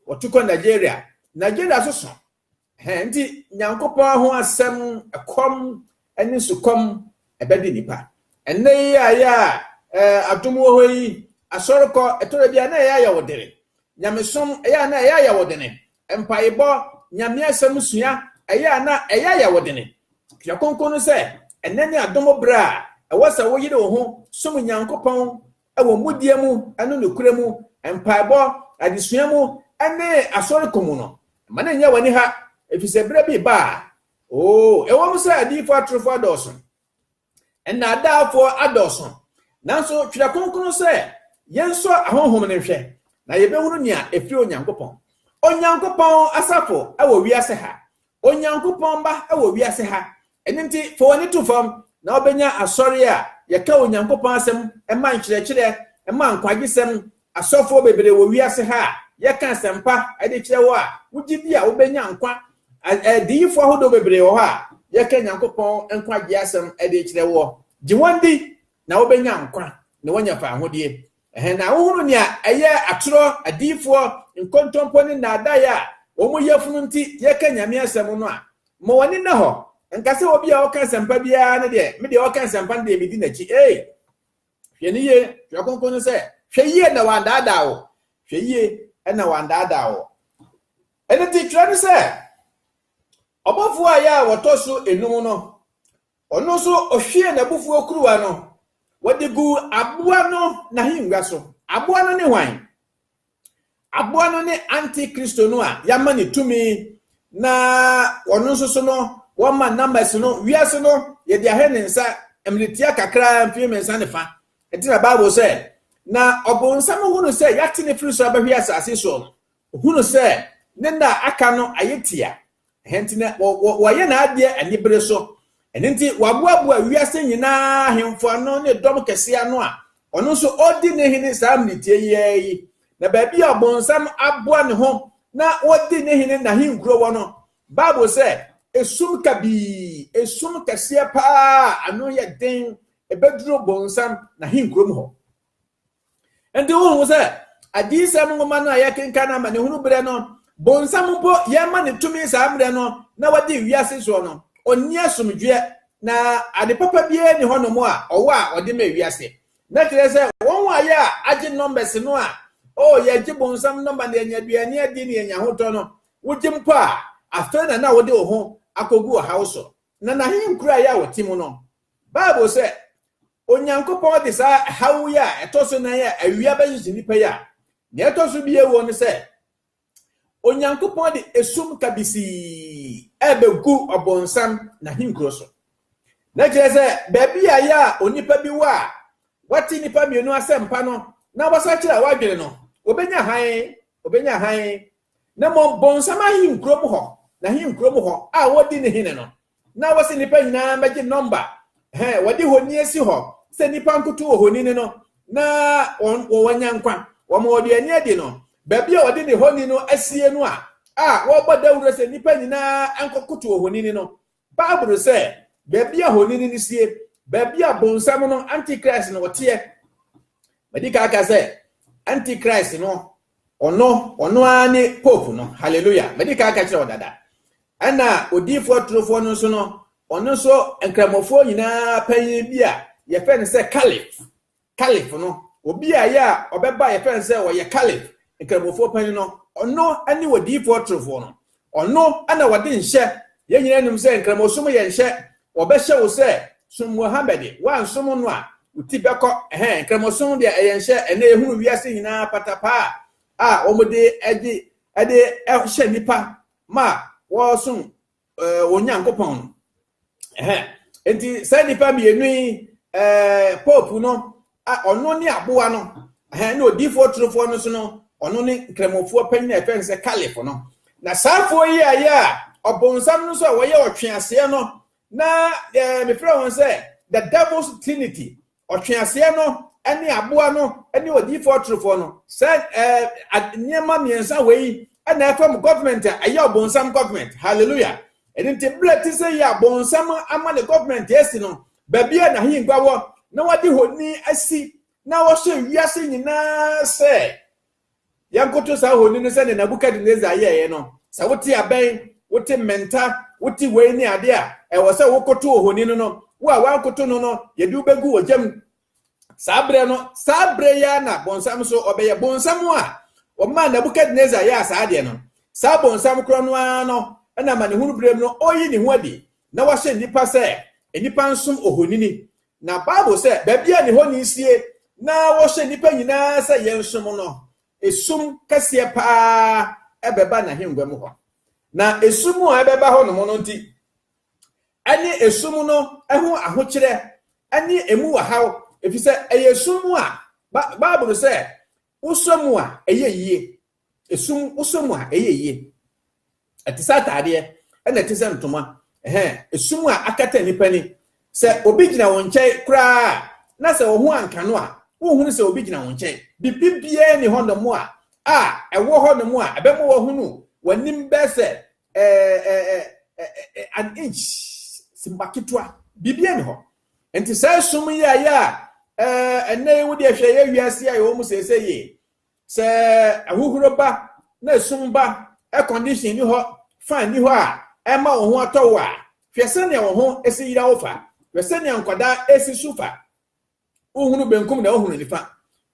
wɔtu kɔ Nigeria Nigeria so so Enti Nyankopɔn ho asɛm, ɛkɔm ne sukɔm ɛbɛde nnipa. Ɛnnɛ yi a yɛ a adom wɔ hɔ yi, asɔrekɔ ɛtɔrɔ bi a na ɛyɛ ayawodere, nyamesom ɛyɛ a na ɛyɛ ayawodene, mpaebɔ, Nyame asɛm sua ɛyɛ a na ɛyɛ ayawodene. Hwɛ kronkron no sɛ ɛnnɛ ne adom berɛ a ɛwɔ sɛ woyere wo ho som Nyankopɔn wɔ mudie mu ne nokorɛ mu, mpaebɔ, adesua mu, ne Asɔre ko mu no, mma no nnyɛ w'ani ha, ɛfiri sɛ berɛ bi reba a, oo, ɛwom sɛ adiyifoɔ atorofoɔ adɔɔso, nnaadaafoɔ adɔɔso, nanso Twerɛ Kronkron sɛ yɛnsɔ ahonhom no nhwɛ, na yɛbɛhunu nea ɛfiri Onyankopɔn. Onyankopɔn asafo wɔ wiase ha, Onyankopɔn mma wɔ wiase ha. Ɛno nti, fa w'ani to fam na wobɛnya asɔre a yɛka Onyankopɔn asɛm ma nkyerɛkyerɛ ma nkwagyesɛm, asɔfoɔ bebree wɔ wiase ha a yɛka asɛmpa de kyerɛ hɔ a wogye di a wobɛnya nkwa, adiyifoɔ ahodoɔ bebree wɔ hɔ a yɛka Nyankopɔn nkwagyeɛ asɛm de kyerɛ woɔ. Gye wɔn di na wobɛnya nkwa na woanya fawohodie. Ɛhɛn na ahohoro nea ɛyɛ atorɔ, adiyifoɔ, nkontompo ne nnaadaeɛ a wɔn yafunu nti yɛka Nyame asɛm no a, ma w'ani nna hɔ, nka sɛ obi a ɔka asɛmpa biara no deɛ, me deɛ ɔka asɛmpa no deɛ medi n'akyi, ei! Hwɛ no yie, Twerɛ Kronkron no sɛ, hwɛ yie na wɔandaadaa wo, hwɛ yie na wɔandaadaa wo. Ɛno nti twerɛ no sɛ, Ɔbɔfoɔ a ɛyɛ a wɔtɔ so enum no, Ɔno nso ɔhwiee n'abufuo kuruwa no, wɔde guu aboa no n'ahengua so. Aboa no ne hwan? Aboa no ne Antikristo no a yɛama ne tumi na ɔno nso so no wɔma numbers no wiase no yɛde ahwɛ ne nsa mmeretia kakraa mfie mmiɛnsa ne fa. Ɛti na Bible sɛ na ɔbonsam hunu sɛ yɛate ne firi so abɛhwe asase soɔ no, ɔhunu sɛ ne nna a aka no ayɛ tia Ɛhɛ nti na wɔyɛ n'adeɛ anibere so. Ɛno nti waboaboa wiase nyinaa ahemfo ano ne dɔm kɛse ano a ɔno nso ɔredi ne hene saa mmeretie yi ara yi. Na baabi a ɔbonsam aboa ne ho na ɔdi ne hene n'ahenkuro wɔ no, Bible sɛ esum kabii, esum kɛseɛ paa a ano yɛ den, ɛbɛduru bonsam n'ahenkurom hɔ. nti wohu sɛ adiyisɛm nwoma no a yɛkenka no amanehunu berɛ no bonsam mpo yɛma ne tumi saa mmerɛ no na wadi wiase soɔ no ɔnni asomdwoeɛ na ade papa biara ni hɔnom a ɔwɔ a ɔde ma wiase na kyerɛ sɛ wɔn a yɛ a agye nɔmbɛs no a o oh, yɛgye bonsam nɔmba na yɛnya aduane adi na yɛnya hotɔ no wogye mpo a afei na na wode wo ho akɔgu ɔhaw so na n'ahenkura yɛ a wɔte mu no bible sɛ Onyankopɔn de saa haw yi a ɛtɔ so nan a awia bɛhyehye nnipa yi a nea ɛtɔ so bi ɛwɔ ne sɛ Onyankopɔn de esum kabisii ɛrebɛgu ɔbonsam n'ahenkuro so. Na kyerɛ sɛ baabi a yɛ a onipa bi wɔ a wate nnipa mmienu asɛmpa no na wasakyera wadwene no, obɛnya hann, obɛnya hann. Na mmom bonsam ahenkurom hɔ, n'ahenkurom hɔ a wɔdi ne hene no, na wɔsi nnipa nyinaa mmɛgye nɔmba hɛ wɔde honi asi hɔ sɛ nnipa nkoto wɔ honi no no na wɔn wɔnya nkwa wɔn wɔde ani adi no baabi a wɔde ne honi no asie no a a wɔbɔ dawuro sɛ nnipa nyinaa nkɔkoto wɔ honi no baabolo sɛ baabi a honi no sie baabi a bonsam no antichrist no wɔteɛ madi ka aka sɛ antichrist no Ɔno, ɔno ara ne Pope no. Hallelujah! Madi kan ka kyerɛ wo dada. Ɛna odiifoɔ torofoɔ no nso no, ɔno nso nkramofoɔ nyinaa panyin bi a yɛfɛ no sɛ Caliph. Caliph no, obi a yɛ a ɔbɛba yɛfɛ no sɛ ɔyɛ Caliph, nkramofoɔ panyin no, ɔno ne odiifoɔ torofoɔ no. Ɔno na wɔde nhyɛ. Yɛn nyinaa nim sɛ Nkramosom yɛ nhyɛ. Wɔbɛhyɛ wo sɛ, Som Muhammad. Woansom no a, wo ti bɛkɔ. Ɛhɛn, Nkramosom deɛ ɛyɛ nhyɛ. Ɛnnɛ yɛhunu wiase nyinaa patapaa a wɔde gye de hyɛ nnipa ma wɔsom wɔn Nyankopɔn no. nti saa nnipa mmienu yi pope no ɔno ne aboa no na odiifoɔ torofoɔ no so no ɔno ne nkramofoɔ panyin a ɛfɛn sɛ caliph no na saafoɔ yi a yɛ a ɔbɔnsam no nso a wɔyɛ ɔtweaseɛ no na mefrɛ wɔn sɛ the devil's trinity Ɔtweaseɛ no ne aboa no ne odiyifoɔ ɔtorofoɔ no. Sɛ ɛɛ nneɛma mmiɛnsa wɔ yi na ɛfa mu government a ɛyɛ ɔbɔnsam government. Hallelujah. Ɛno nti berɛ te sɛ yi a bɔnsam ama ne government asi no, baabi a n'ahengua wɔ na wɔde honi asi na wɔhyɛ wiase nyinaa sɛ Yɛnkoto saa ohoni no sɛnea Nebukadnesar yɛeɛ no. Sɛ wote abɛn, wote mmɛnta, wote wei ne adeɛ a, ɛwɔ sɛ wokoto ohoni no no. Wo a woankoto no no, yɛde wo bɛgu ogya mu. Saa berɛ no, saa berɛ yi ara na bonsam nso ɔbɛyɛ. Bonsam a ɔmaa Nebukadnesar yɛɛ saa adeɛ no, saa bonsam korɔ no ara no na amanehunu berɛ mu no ɔreyi ne ho adi na wahyɛ nnipa sɛ nnipa nsom ohonini Na Bible sɛ, Baabi a ne honi sie na wɔhyɛ nnipa nyinaa sɛ yɛnsom no, esum kɛseɛ paa bɛba n'ahengua mu hɔ. Na esum a ɛbɛba hɔ nom no nti, ɛne esum no ho ahokyerɛ ne emu ɔhaw, ɛfiri sɛ ɛyɛ esum a Bible sɛ wosɔ mu a, ɛyɛ yie. Esum wosɔ mu a, ɛyɛ yie. Ɛte sɛ ataadeɛ, ɛna ɛte sɛ ntoma. Ɛhɛn, esum a akata nnipa ani. Sɛ obi gyina wo nkyɛn koraa a, na sɛ wo ho anka no a, wonhunu sɛ obi gyina wo nkyɛn. Biribiara nni hɔnom a a ɛwɔ hɔnom a ɛbɛma woahunu w'anim bɛyɛ sɛ an inch, simma ketewa. Biribiara nni hɔ. Nti saa esum yi a ɛyɛ a ɛnɛ yi wode ahwɛ yɛ wiase a yɛwɔ mu seesei yi, Sɛ ahohuro ba na esum ba, air condition nni hɔ, fan nni hɔ a, ɛma wo ho atɔ wo a, hwɛ sɛnea wo ho si yera wo fa. Hwɛ sɛnea nkwadaa si su fa. Wohunu benkum na wohunu nifa.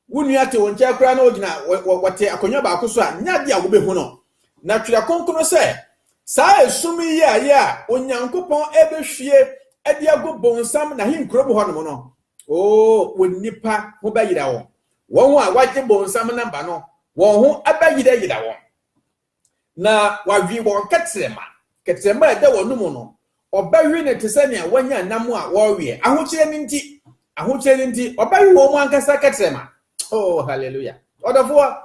Wo nua te wo nkyɛn koraa na ogyina wɔte akonnwa baako so a, nyɛ ade a wubehu no. Na Twerɛ Kronkron sɛ, Saa esum yi yɛ ayɛ a Onyankopɔn rebɛhwie de agu bonsam n'ahenkurom hɔnom no, oo, wo nnipa ho bɛyera wɔn. Wɔn a wɔagye bonsam no aba no, wɔn ho bɛyerayera wɔn, na wɔawe wɔn kɛtrɛma. Kɛtrɛma a ɛda wɔn mu no, wɔbɛwe no te sɛ nea wɔanya nam a wɔrewe. Ahokyerɛ no nti, ahokyerɛ no nti, wɔbɛwe wɔn ankasa kɛtrɛma. Oh, hallelujah. Ɔdɔfoɔ,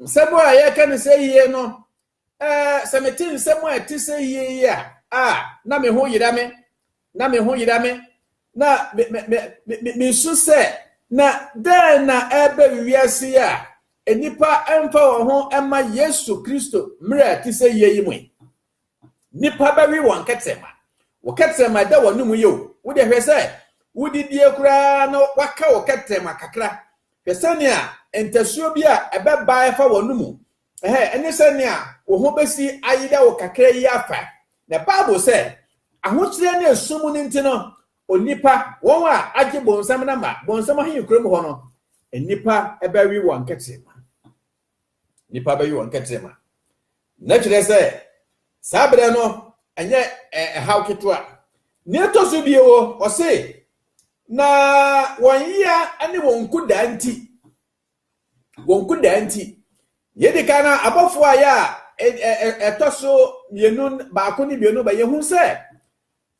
nsɛm a yɛka no sɛ yie no, Ɛɛ, sɛ mete nsɛm a ɛte sɛ yie yi a, a, na me ho yera me, na me ho yera me, na me, me, me, me, me, mesu sɛ, na dɛn na ɛreba wiase yi a nnipa mfa wɔn ho mma Yesu Kristo mmerɛ a ɛte sɛ yie yi mu yi? Nnipa bɛwe wɔn kɛtɛma. Wo kɛtɛma ɛda wɔn anom yɛ o. Wode hwɛ sɛ wodidie koraa na waka wo kɛtɛma kakra. Hwɛ sɛnea ntasuo bi a ɛbɛba ɛfa wɔn mu Ɛhɛɛ, ɛne sɛ nea wo ho besi ayera wo kakra yi afa. Na Bible sɛ, Ahokyerɛ ne sum no nti no, onipa, wɔn a agye bonsam na ma bonsam ahenkurow mu hɔ no, nnipa bɛwe wɔn nkɛtrema. Nnipa bɛwe wɔn nkɛtrema. Na kyerɛ sɛ, saa berɛ no, ɛnyɛ ɛhaw ketewa. Nea ɛtɔ so bio wɔ, ɔse, na wɔn yea ne wɔn nkudaa nti, wɔn kodaa nti. Nea edi kan no, abɔfo a yɛ a ɛtɔ so mmienu baako ne mmienu ba yɛhu sɛ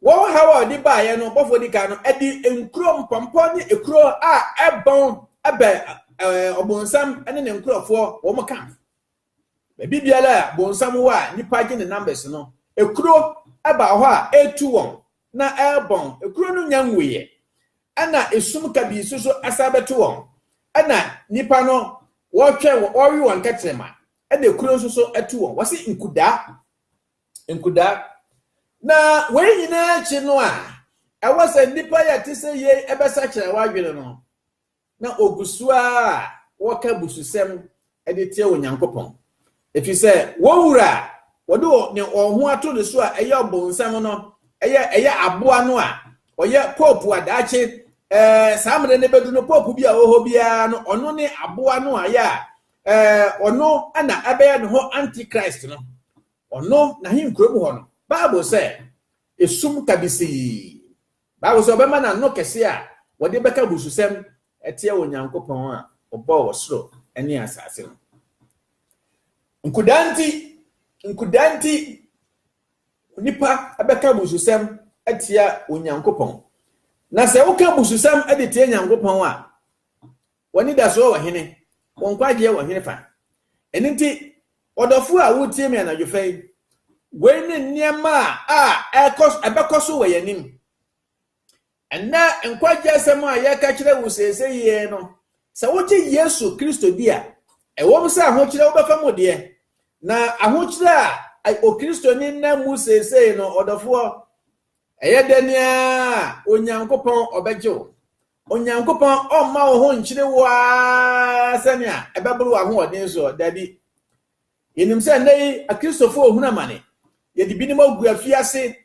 wɔn haw a ɔde baeɛ no bɔfo di kan no ɛde nkuro mpɔmpɔ ne ekuro a ɛbɔn ɛbɛn ɔbɔnsam ne ne nkurɔfoɔ wɔn ka Baabi biara a bonsam wɔ a nnipa gye ne numbers no, ekuro ba hɔ a etu wɔn na ɛrebɔn. Ekuro no nya nwuiɛ. Ɛna esum kabii nso so asan bɛto wɔn. Ɛna nnipa no wɔretwɛn wɔn, wɔrewe wɔn kɛtrɛma. Ɛna ekuro nso so to wɔn. Wɔsi nkudaa, nkudaa. Na wei nyinaa akyi no a, ɛwɔ sɛ nnipa yɛ te sɛ yei ɛbɛsakyera w'adwene no. na wɔgu so ara wɔka abususɛm de tia Onyankopɔn, ɛfiri sɛ wɔn wura a wɔde wɔn ho ato ne so a ɛyɛ ɔbonsam no, ɛyɛ ɛyɛ aboa no a ɔyɛ pope a daakye ɛɛ saa mmerɛ no bɛdu no pope bi a ɔwɔ hɔ biara no ɔno ne aboa no a yɛ a ɛɛ ɔno na ɛbɛyɛ ne ho antichrist no ɔno n'ahenkurom hɔ no bible sɛ esum kabisii Bible sɛ ɔbɛma n'ano kɛse a wɔde bɛka abususɛm atia Onyankopɔn a ɔbɔɔ ɔsoro ne asase no. Nkudaa nti, nkudaa nti, nnipa bɛka abususɛm atia Onyankopɔn. Na sɛ woka abususɛm de tia Nyankopɔn a, Wɔn anidasoɔ wɔ hene? Wɔn nkwagyeɛ wɔ hefa? Ɛno nti, ɔdɔfoɔ a woretie me anadwofa yi, wei ne nneɛma a ɛrekɔ so, ɛbɛkɔ so wɔ yɛn anim. Ɛnnɛ nkwagyeɛ asɛm a yɛreka kyerɛ wo seesei yi no, sɛ wogye Yesu Kristo di a, ɛwom sɛ ahokyerɛ wobɛfa mu deɛ, na ahokyerɛ a Okristoni nam mu seesei no, ɔdɔfoɔ, Ɛyɛ dɛn ara a, Onyankopɔn ɔbɛgye wo. Onyankopɔn ɔmma wo ho nkyere wo ara sɛnea ɛbɛboro w'ahoɔden soɔ. Dabi. Yɛnim sɛ nnɛ yi Akristofoɔ rehunu amane. Yɛde binom agu afiase,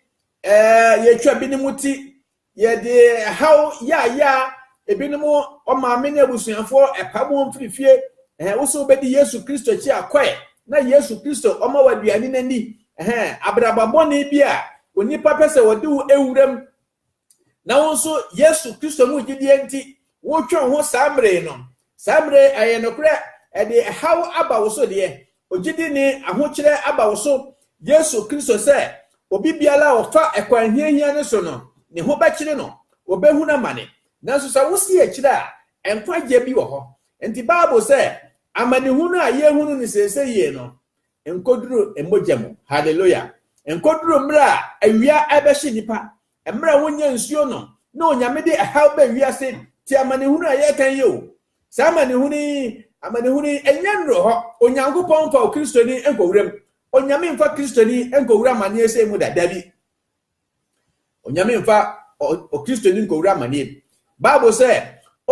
ɛɛ, yɛatwa binom ti, yɛde ɛhaw yaayaa ebinom wɔn maame ne abusuafoɔ ɛpam wɔn firi fie. Ɛɛ, wo so wobɛdi Yesu Kristo akyi akɔ ɛ, na Yesu Kristo ɔma wo aduane no ani, Ɛhɛɛ, abrabɔ bɔne bi a onipa pɛ sɛ ɔde wo wura mu, na wo nso Yesu Kristo mu gyidie nti, wotwe wo ho saa mmerɛ yi no, saa mmerɛ yi ɛyɛ nokorɛ ɛde ɛhaw aba wo so deɛ, ogyidi ne ahokyerɛ aba wo so, Yesu Kristo sɛ, obi biara a ɔfa ɛkwan hiahia no so no, ne ho bɛkyere no, ɔbɛhunu amane. Nanso sɛ wosi akyire a, nkwagyeɛ bi wɔ hɔ. Nti Bible sɛ, amanehunu a yɛrehunu no seesei yei no, Ɛnkɔduru mogya mu. Hallelujah! Ɛnkɔduru mmerɛ a awia rebɛhye nnipa, mmerɛ a wɔnnya nsuo nom, na Onyame de ɛhaw ba wiase, tie amanehunu a yɛreka yi o. Saa amanehunu yi, amanehunu yi, ɛnyɛ nnuru hɔ. Onyankopɔn mfa Okristoni nkɔwura mu. Onyame mfa Kristoni nkɔwura amaneɛ sei mu da. Dabi. Onyame mfa Okristoni nkɔwura amanneɛ mu. Bible sɛ,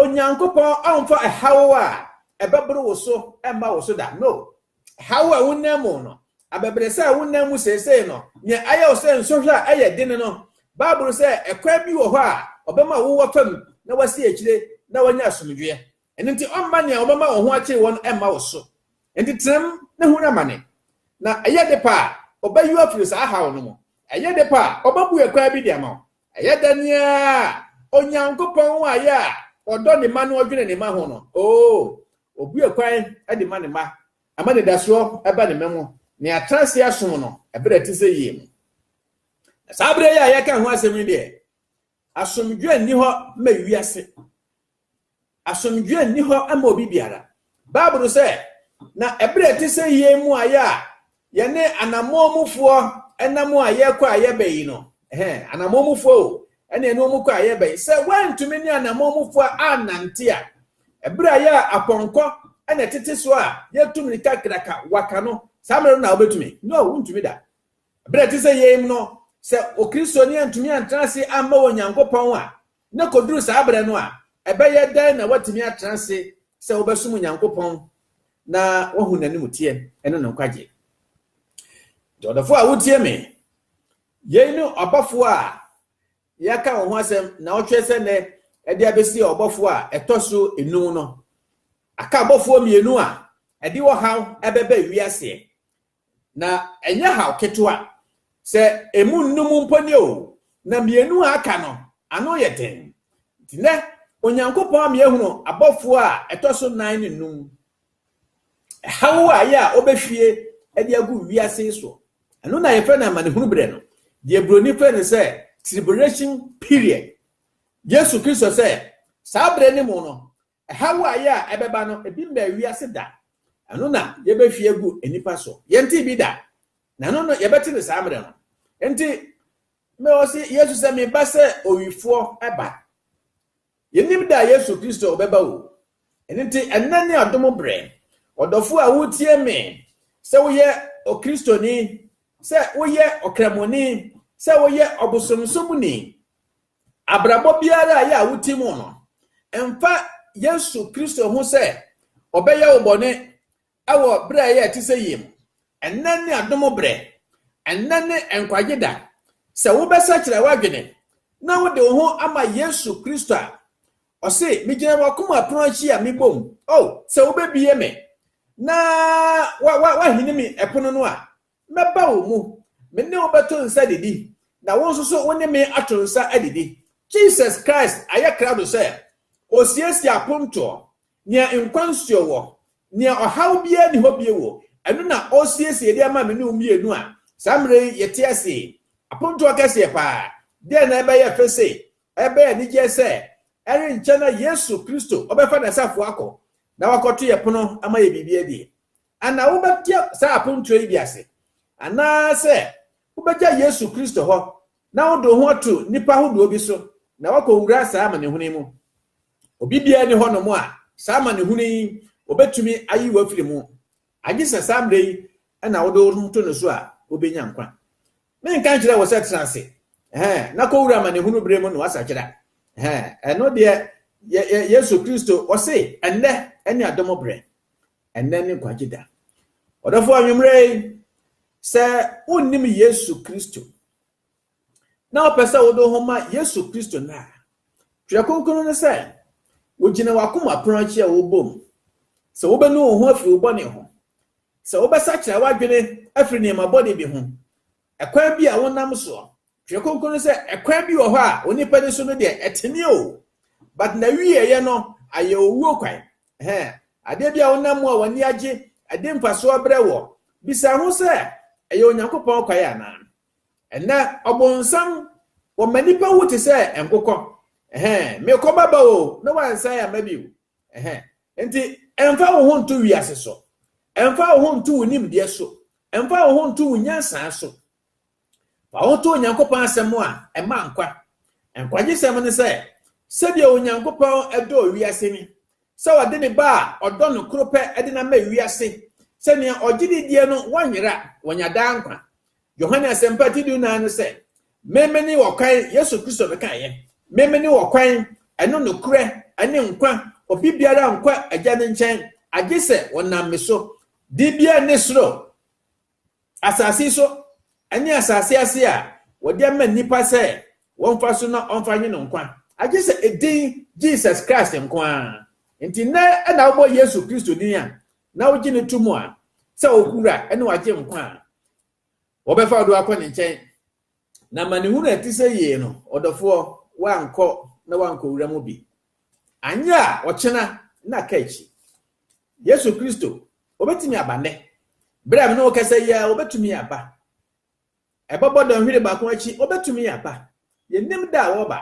Onyankopɔn ɔmfa ɛhaw a ɛbɛboro wo so mma wo so da. No. Ɛhaw a wonam mu no, abɛbrɛsɛ a wonam mu seesei no, nea ayɛ wo sɛ nsɔhwɛ a ɛyɛ den no, Bible sɛ ɛkwan bi wɔ hɔ a ɔbɛma wo wafam na wasi akyire na wanya asomdwoeɛ. Ɛno nti ɔmma nea ɔbɛma wo ho akyere wɔn mma wo so. Enti tenam na hu n'amane, na ɛyɛ de pɛ a, ɔbɛyi wo afiri saa haw no mu. Ɛyɛ de pɛ a, ɔbɛbue kwan bi de ama wo. Ɛyɛ dɛn ara a, Onyankopɔn a ɔyɛ a ɔdɔ ne mma na ɔdwene ne mma ho no, oo, ɔbue kwan de ma ne mma, ɛma anidasoɔ ba ne mma mu, na yɛatena ase asom no berɛ a ɛte sɛ yei mu. Na saa berɛ yi a yɛreka ho asɛm yi deɛ, Asomdwoeɛ nni hɔ ma wiase. Asomdwoeɛ nni hɔ ma obi biara. Bible no sɛ, Na ɛberɛ a ɛte sɛ yei mu ayɛ a yɛne anammɔn mufoɔ nam a yɛrekɔ a yɛbɛ yi no, ɛhɛ, anammɔn mufoɔ o, ɛne ɛne wɔn kɔ a yɛbɛ yi, sɛ woantumi ne anammɔn mufoɔ annante a, ɛberɛ a yɛ apɔnkɔ na ɛtete so a yɛtu mmirika kraka waka no, saa mmerɛ no na wobɛtumi? No, wontumi da. Bere a ɛte sɛ yei mu no, sɛ Okristoni antumi antra ase amma Onyankopɔn a, na koduru saa bere no a, ɛbɛyɛ dɛn na watumi atra ase sɛ wobɛsom Onyankopɔn na wahu n'animteɛ ne ne nkwagye? Nti ɔdɔfo a wotie me, yei ne ɔbɔfo a yɛaka wo ho asɛm na ɔtwerɛ sɛ nnɛ ɛde abɛsi ɔbɔfo a ɛtɔ so enum no. Aka abɔfoɔ mmienu a ɛde ɔhaw ɛbɛbɛ wiaseɛ. Na ɛnyɛ haw ketewa. Sɛ emu nnum mpo ni oo, na mmienu a aka no, ano yɛ den. Enti nnɛ, Onyankopɔn ama yɛahunu abɔfoɔ a ɛtɔ so nnan ne nnum. Ɛhaw a ɛyɛ a wɔbɛhwie de agu wiase yi soɔ. Ɛno na yɛfrɛ no amanehunu berɛ no, deɛ Buroni frɛ no sɛ tribulation period. Yesu Kristo sɛ, saa berɛ no mu no, Ɛhaw a ɛyɛ a ɛbɛba no, ebi mmɛɛ wiase da. Ɛno na yɛbɛhwie agu nnipa so. Yɛntee bi da, na ɛno no yɛbɛte no saa mmerɛ no. Enti, me, ɔse Yesu sɛ, meba sɛ owifoɔ ba. Yɛnnim da a Yesu Kristo ɔbɛba o. Ɛno nti, ɛnnɛ ne adom berɛ. Ɔdɔfoɔ a woretie me, sɛ woyɛ Okristoni, sɛ woyɛ Ɔkramoni, sɛ woyɛ ɔbosomsomni, Abrabɔ biara a ɛyɛ a wote mu no, mfa Yesu Kristo ho sɛ ɔbɛyɛ wo bɔne wɔ berɛ a ɛyɛ a ɛte sɛ yie mu. Ɛnnɛ ne adom berɛ. Ɛnnɛ ne nkwagye da. Sɛ wobɛsakyera w'adwene na wode wo ho ama Yesu Kristo a, ɔse, Megyina w'akoma pono akyi a mebɔ mu. Oh, sɛ wobɛbue me na wahini me pono no a, Mɛba wo mu, me ne wo bɛto nsa adidi, na wo nso so wo ne me ato nsa adidi. Jesus Christ ayɛ krado sɛ Osiesie apontoɔ, nea nkwa nsuo wɔ, nea ɔhaw biara nni hɔ bio, ɛno na Osiesie de ama me ne wo mmienu a saa mmerɛ yi yɛte ase yi. Apontoɔ kɛseɛ paa! Deɛn na ɛbɛyɛ fɛ sei? Ɛbɛyɛ anigyeɛ sɛ ɛrenkyɛ na Yesu Kristo ɔbɛfa N'asafoɔ akɔ na wakɔto yɛ pono ama yɛ biribi adi. Ana wobɛte saa apontoɔ yi bi ase? Anaasɛ wobɛgya Yesu Kristo hɔ na wode wo ho ato nnipa ahodoɔ bi so na woakɔwura saa amanehunu yi mu? Obi biara nni hɔnom a saa amanehunu yi wɔbɛtumi ayi wo afiri mu, agye sɛ saa mmerɛ yi na wode wo ho to ne so a wobɛnya nkwa. Menka nkyerɛ wo sɛ tena ase ɛhɛn, na kɔwura amanehunu berɛ mu na woasakyera. Ɛhɛn, ɛno deɛ yɛ, yɛ, Yesu Kristo, ɔse, ɛnnɛ ne adom berɛ. Ɛnnɛ ne nkwagye da. Ɔdɔfo anwummere yi, sɛ wonnim Yesu Kristo na wopɛ sɛ wode wo ho ma Yesu Kristo nnɛ a, Twerɛ Kronkron no sɛ, wogyina w'akoma pono akyi a wobɔ mu, sɛ wobɛnu wo ho afiri wo bɔne ho, sɛ wobɛsakyera w'adwene afiri nneɛma bɔne bi ho, ɛkwan bi a wonam soɔ Twerɛ Kronkron no sɛ ɛkwan bi wɔ hɔ a onipa ni so no deɛ ɛtene o but na wieɛ no ayɛ owuo kwan ɛhɛ adeɛ bi a wonam mu a w'ani agye ɛde mfasoɔ brɛ wɔ bisa ho sɛ ɛyɛ Onyankopɔn kwan anaa ɛnɛ ɔbonsam wɔma nipa wu te sɛ nkokɔ ɛhɛ mekɔ baba o na wansan ama bi o ɛhɛ nti ɛmfa wo ho nto wiase so ɛmfa wo ho nto wo nimdeɛ so ɛmfa wo ho nto wo nyansaa so Fa wo ho to Onyankopɔn Asɛm a ɛma nkwa. Nkwagyesɛm ne sɛ, sɛdeɛ Onyankopɔn dɔɔ wiase ni, sɛ ɔde ne Ba a ɔdɔ no koro pɛ de no ama wiase, sɛ nea ɔgye no die no wɔnyera, wɔnya daa nkwa. Yohane Asɛmpa ti dunan no sɛ, Me mene wɔkwan, Yesu Kristo no kaeɛ, Me mene wɔkwan, ɛno nokorɛ, ɛne nkwa, obi biara nkɔ Agya no nkyɛn, agye sɛ wɔnam me so. Dibea ne soro. asase so ne asase ase a wɔde ama nnipa sɛ wɔmfa so na wɔmfa nwe no nkwa, agye sɛ edin Jesus Christ nko ara. Enti nnɛ na wobɔ Yesu Kristo din a, na wogye no to mu a, sɛ wo Wura ne wagye nkwa a, wɔbɛfa ɔdo akɔ ne nkyɛn. Na amanehunu a ɛte sɛ yei no, ɔdɔfoɔ, woankɔ na woankɔwura mu bi. Anyɛ a, ɔkyena na ka akyi. Yesu Kristo, Obetumi aba nnɛ. Bere a me ne wo kasa yi ara, Obetumi aba. Ɛbɛbɔ dɔnhwere baako akyi, Obetumi aba. Yennim da a Ɔreba.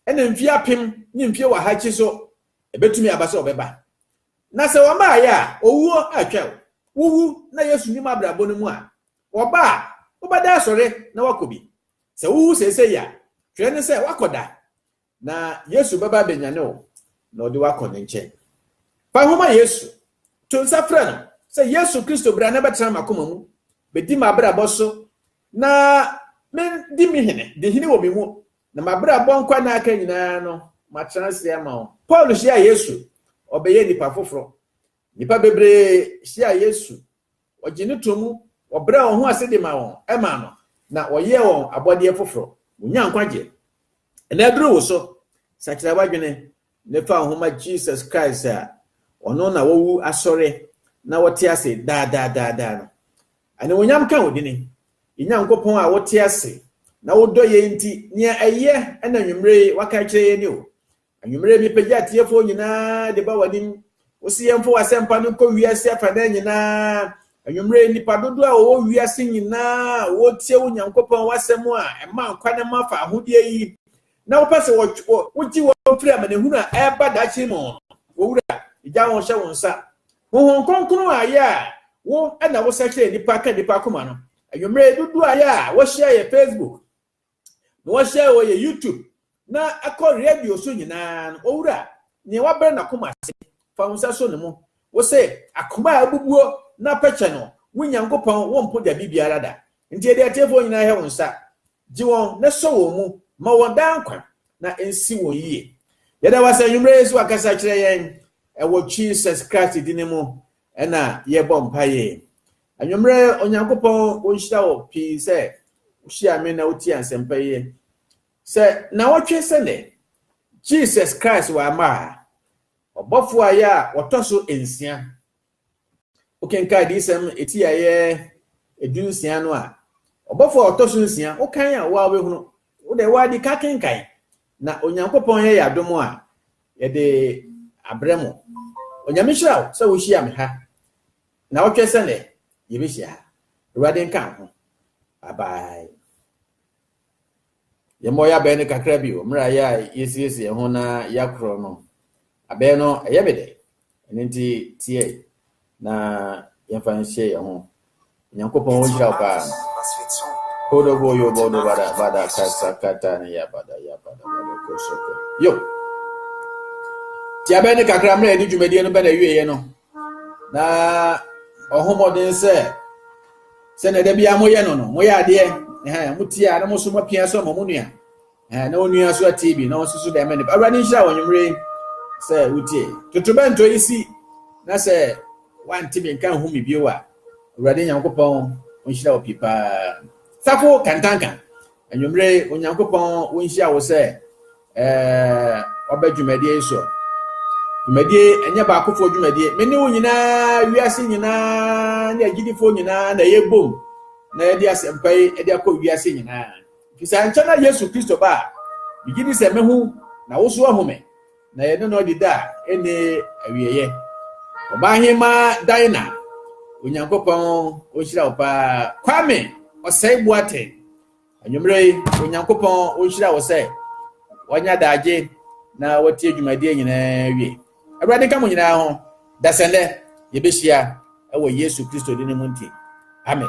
Ɛna mfe apem ne mfe ɔha akyi so, Ebetumi aba sɛ Ɔbɛba. Na sɛ Ɔmmaeɛ a, owuo atwaw. Wuwu na Yesu nnim abrabɔ no mu a, Ɔba a, wobɛda asɔre na woakɔ bi. Sɛ wuwu seesei a, twerɛ ne sɛ woakɔ da. Na Yesu bɛba abɛnyane wo, na ɔde wo akɔ ne nkyɛn. Fa ho ma Yesu. To nsa frɛ no sɛ, Yesu Kristo, bra na bɛtena m'akoma mu, bɛdi m'abrabɔ so, na me di me hene, di hene wɔ me mu, na m'abrabɔ nkwa na aka nyinaa no, matena ase ama wo. Paul hyiaa Yesu, ɔbɛyɛɛ nipa foforɔ. Nnipa bebree hyiaa Yesu, Wɔgye no to mu, wɔbrɛ wɔn ho ase de ma wɔn, ɛma no, na wɔyɛ wɔn abɔdeɛ foforɔ. Wɔnya nkwagyeɛ. Ɛna aduru wo so. Sakyera w'adwene ne fa wo ho ma Jesus Christ a Ɔno na wawu asɔre na ɔte ase daa daa daa daa no. Animuonyam ka wo dini. Yɛn Nyankopɔn a wote ase na wodɔ yɛn nti, nea ɛyɛ na anwummere yi woaka akyerɛ yɛn ni o. Anwummere yi mepagya atiefoɔ nyinaa de ba w'anim. Wose yɛmfa w'asɛmpa no nkɔ wiase afanan nyinaa. Anwummere yi nnipa dodoɔ a wɔwɔ wiase nyinaa a wɔretie wo Nyankopɔn w'asɛm a ɛma nkwa ne ma fa ahodeɛ yi, na wopɛ sɛ wogye wɔn firi amanehunu a ɛreba daakye mu no, wo Wura, megya wɔn hyɛ wo nsa. Honhom Kronkron a yɛ a wo na wosakyera nnipa ka nnipa akoma no. Anwummere yi dodoɔ a yɛ a wɔhyia yɛ Facebook, na wɔhyɛ wɔyɛ YouTube na ɛkɔ radio so nyinaa no, Owura, nea wabrɛ n'akoma ase, fa wo nsa so no mu. Wose, Akoma a abubuo na apɛkyɛ no, wo Nyankopɔn wompo da bi biara da. Nti yɛde atiefoɔ nyinaa hyɛ wo nsa. Gye wɔn na sɔ wɔn mu, ma wɔn daa nkwa, na nsi wɔn yie. Yɛda wo ase anwummerɛ yi sɛ wakasa kyerɛ yɛn ɛwɔ Jesus Christ dini mu. Ɛna yɛbɔ mpaeɛ. Anwummerɛ Onyankopɔn ɔnhyira wo pii sɛ wohyia me na wotie asɛmpa yi. Sɛ nnawɔtwe sɛ nnɛ, Jesus Christ wamma a, ɔbɔfoɔ a yɛ a ɔtɔ so nsia. Wokenkan adiyisɛm ɛti a yɛ ɛdu nsia no a, ɔbɔfoɔ a ɔtɔ so nsia, wokan a woa wobɛhunu, wode woa di ka kenkan Na Onyankopɔn yɛ yɛ adom a, yɛde abrɛ mo. Onyame nhyira wo sɛ wohyia me ha naawɔtwɛ sɛ nɛ yɛbɛhyia ha. Awurade nka wo ho. Bye bye. Yɛmmɔ yɛ abɛn no kakra bio mmerɛ a yɛ a yɛsiesie yɛn ho na yɛakorɔ no. Abɛn no ɛyɛ me dɛ. Ɛno nti teɛ na yɛmfa nhyɛ yɛn ho. Nyankopɔn wo nhyira wo paa. Kodo bo yo bodo bada bada kasa kata ne ya bada ya bada bada koso ko. Yo. Tia bɛn ne kakra mmerɛ yɛde dwumadie no bɛn awieɛ no. Na ɔho mmɔden sɛ sɛnea da biara moyɛ no no moyɛ adeɛ. Ɛhɛn motia na mo so moapia so ama mo nua. Eh, na onua nso atie bi na ɔnso so dɛm ne awurade nhyira wɔn nwumere yi sɛ wotie totorobɛnto yi si na sɛ wante me nka nhu me bio a awurade nyankopɔn ɔnhyira wɔ pii paa safo kantanka anwumere onyankopɔn wonhyia wo sɛ eh, ɔbɛ dwumadie yi so dwumadie ɛnyɛ baakofoɔ dwumadie me ne wo nyinaa wiase nyinaa ne agyidifoɔ nyinaa na yɛbom na yɛde asɛmpa yi de akɔ wiase nyinaa Efisɛ ankyɛ na Yesu Kristo ba a migye di sɛ mɛhu na wo nso ahu me, na yɛne no adi da a ɛnni awieeɛ. Ɔbaaheema Daina, Onyankopɔn ɔnhyira wo paa. Kwame Ɔsɛe Boateng, anwummerɛ yi Onyankopɔn ɔnhyira wo sɛ wanya daagye na watie dwumadie nyinaa wie. Awurade nka mo nyinaa ho, dasɛnnɛ yɛbɛhyia ɛwɔ Yesu Kristo din mu nti. Amen.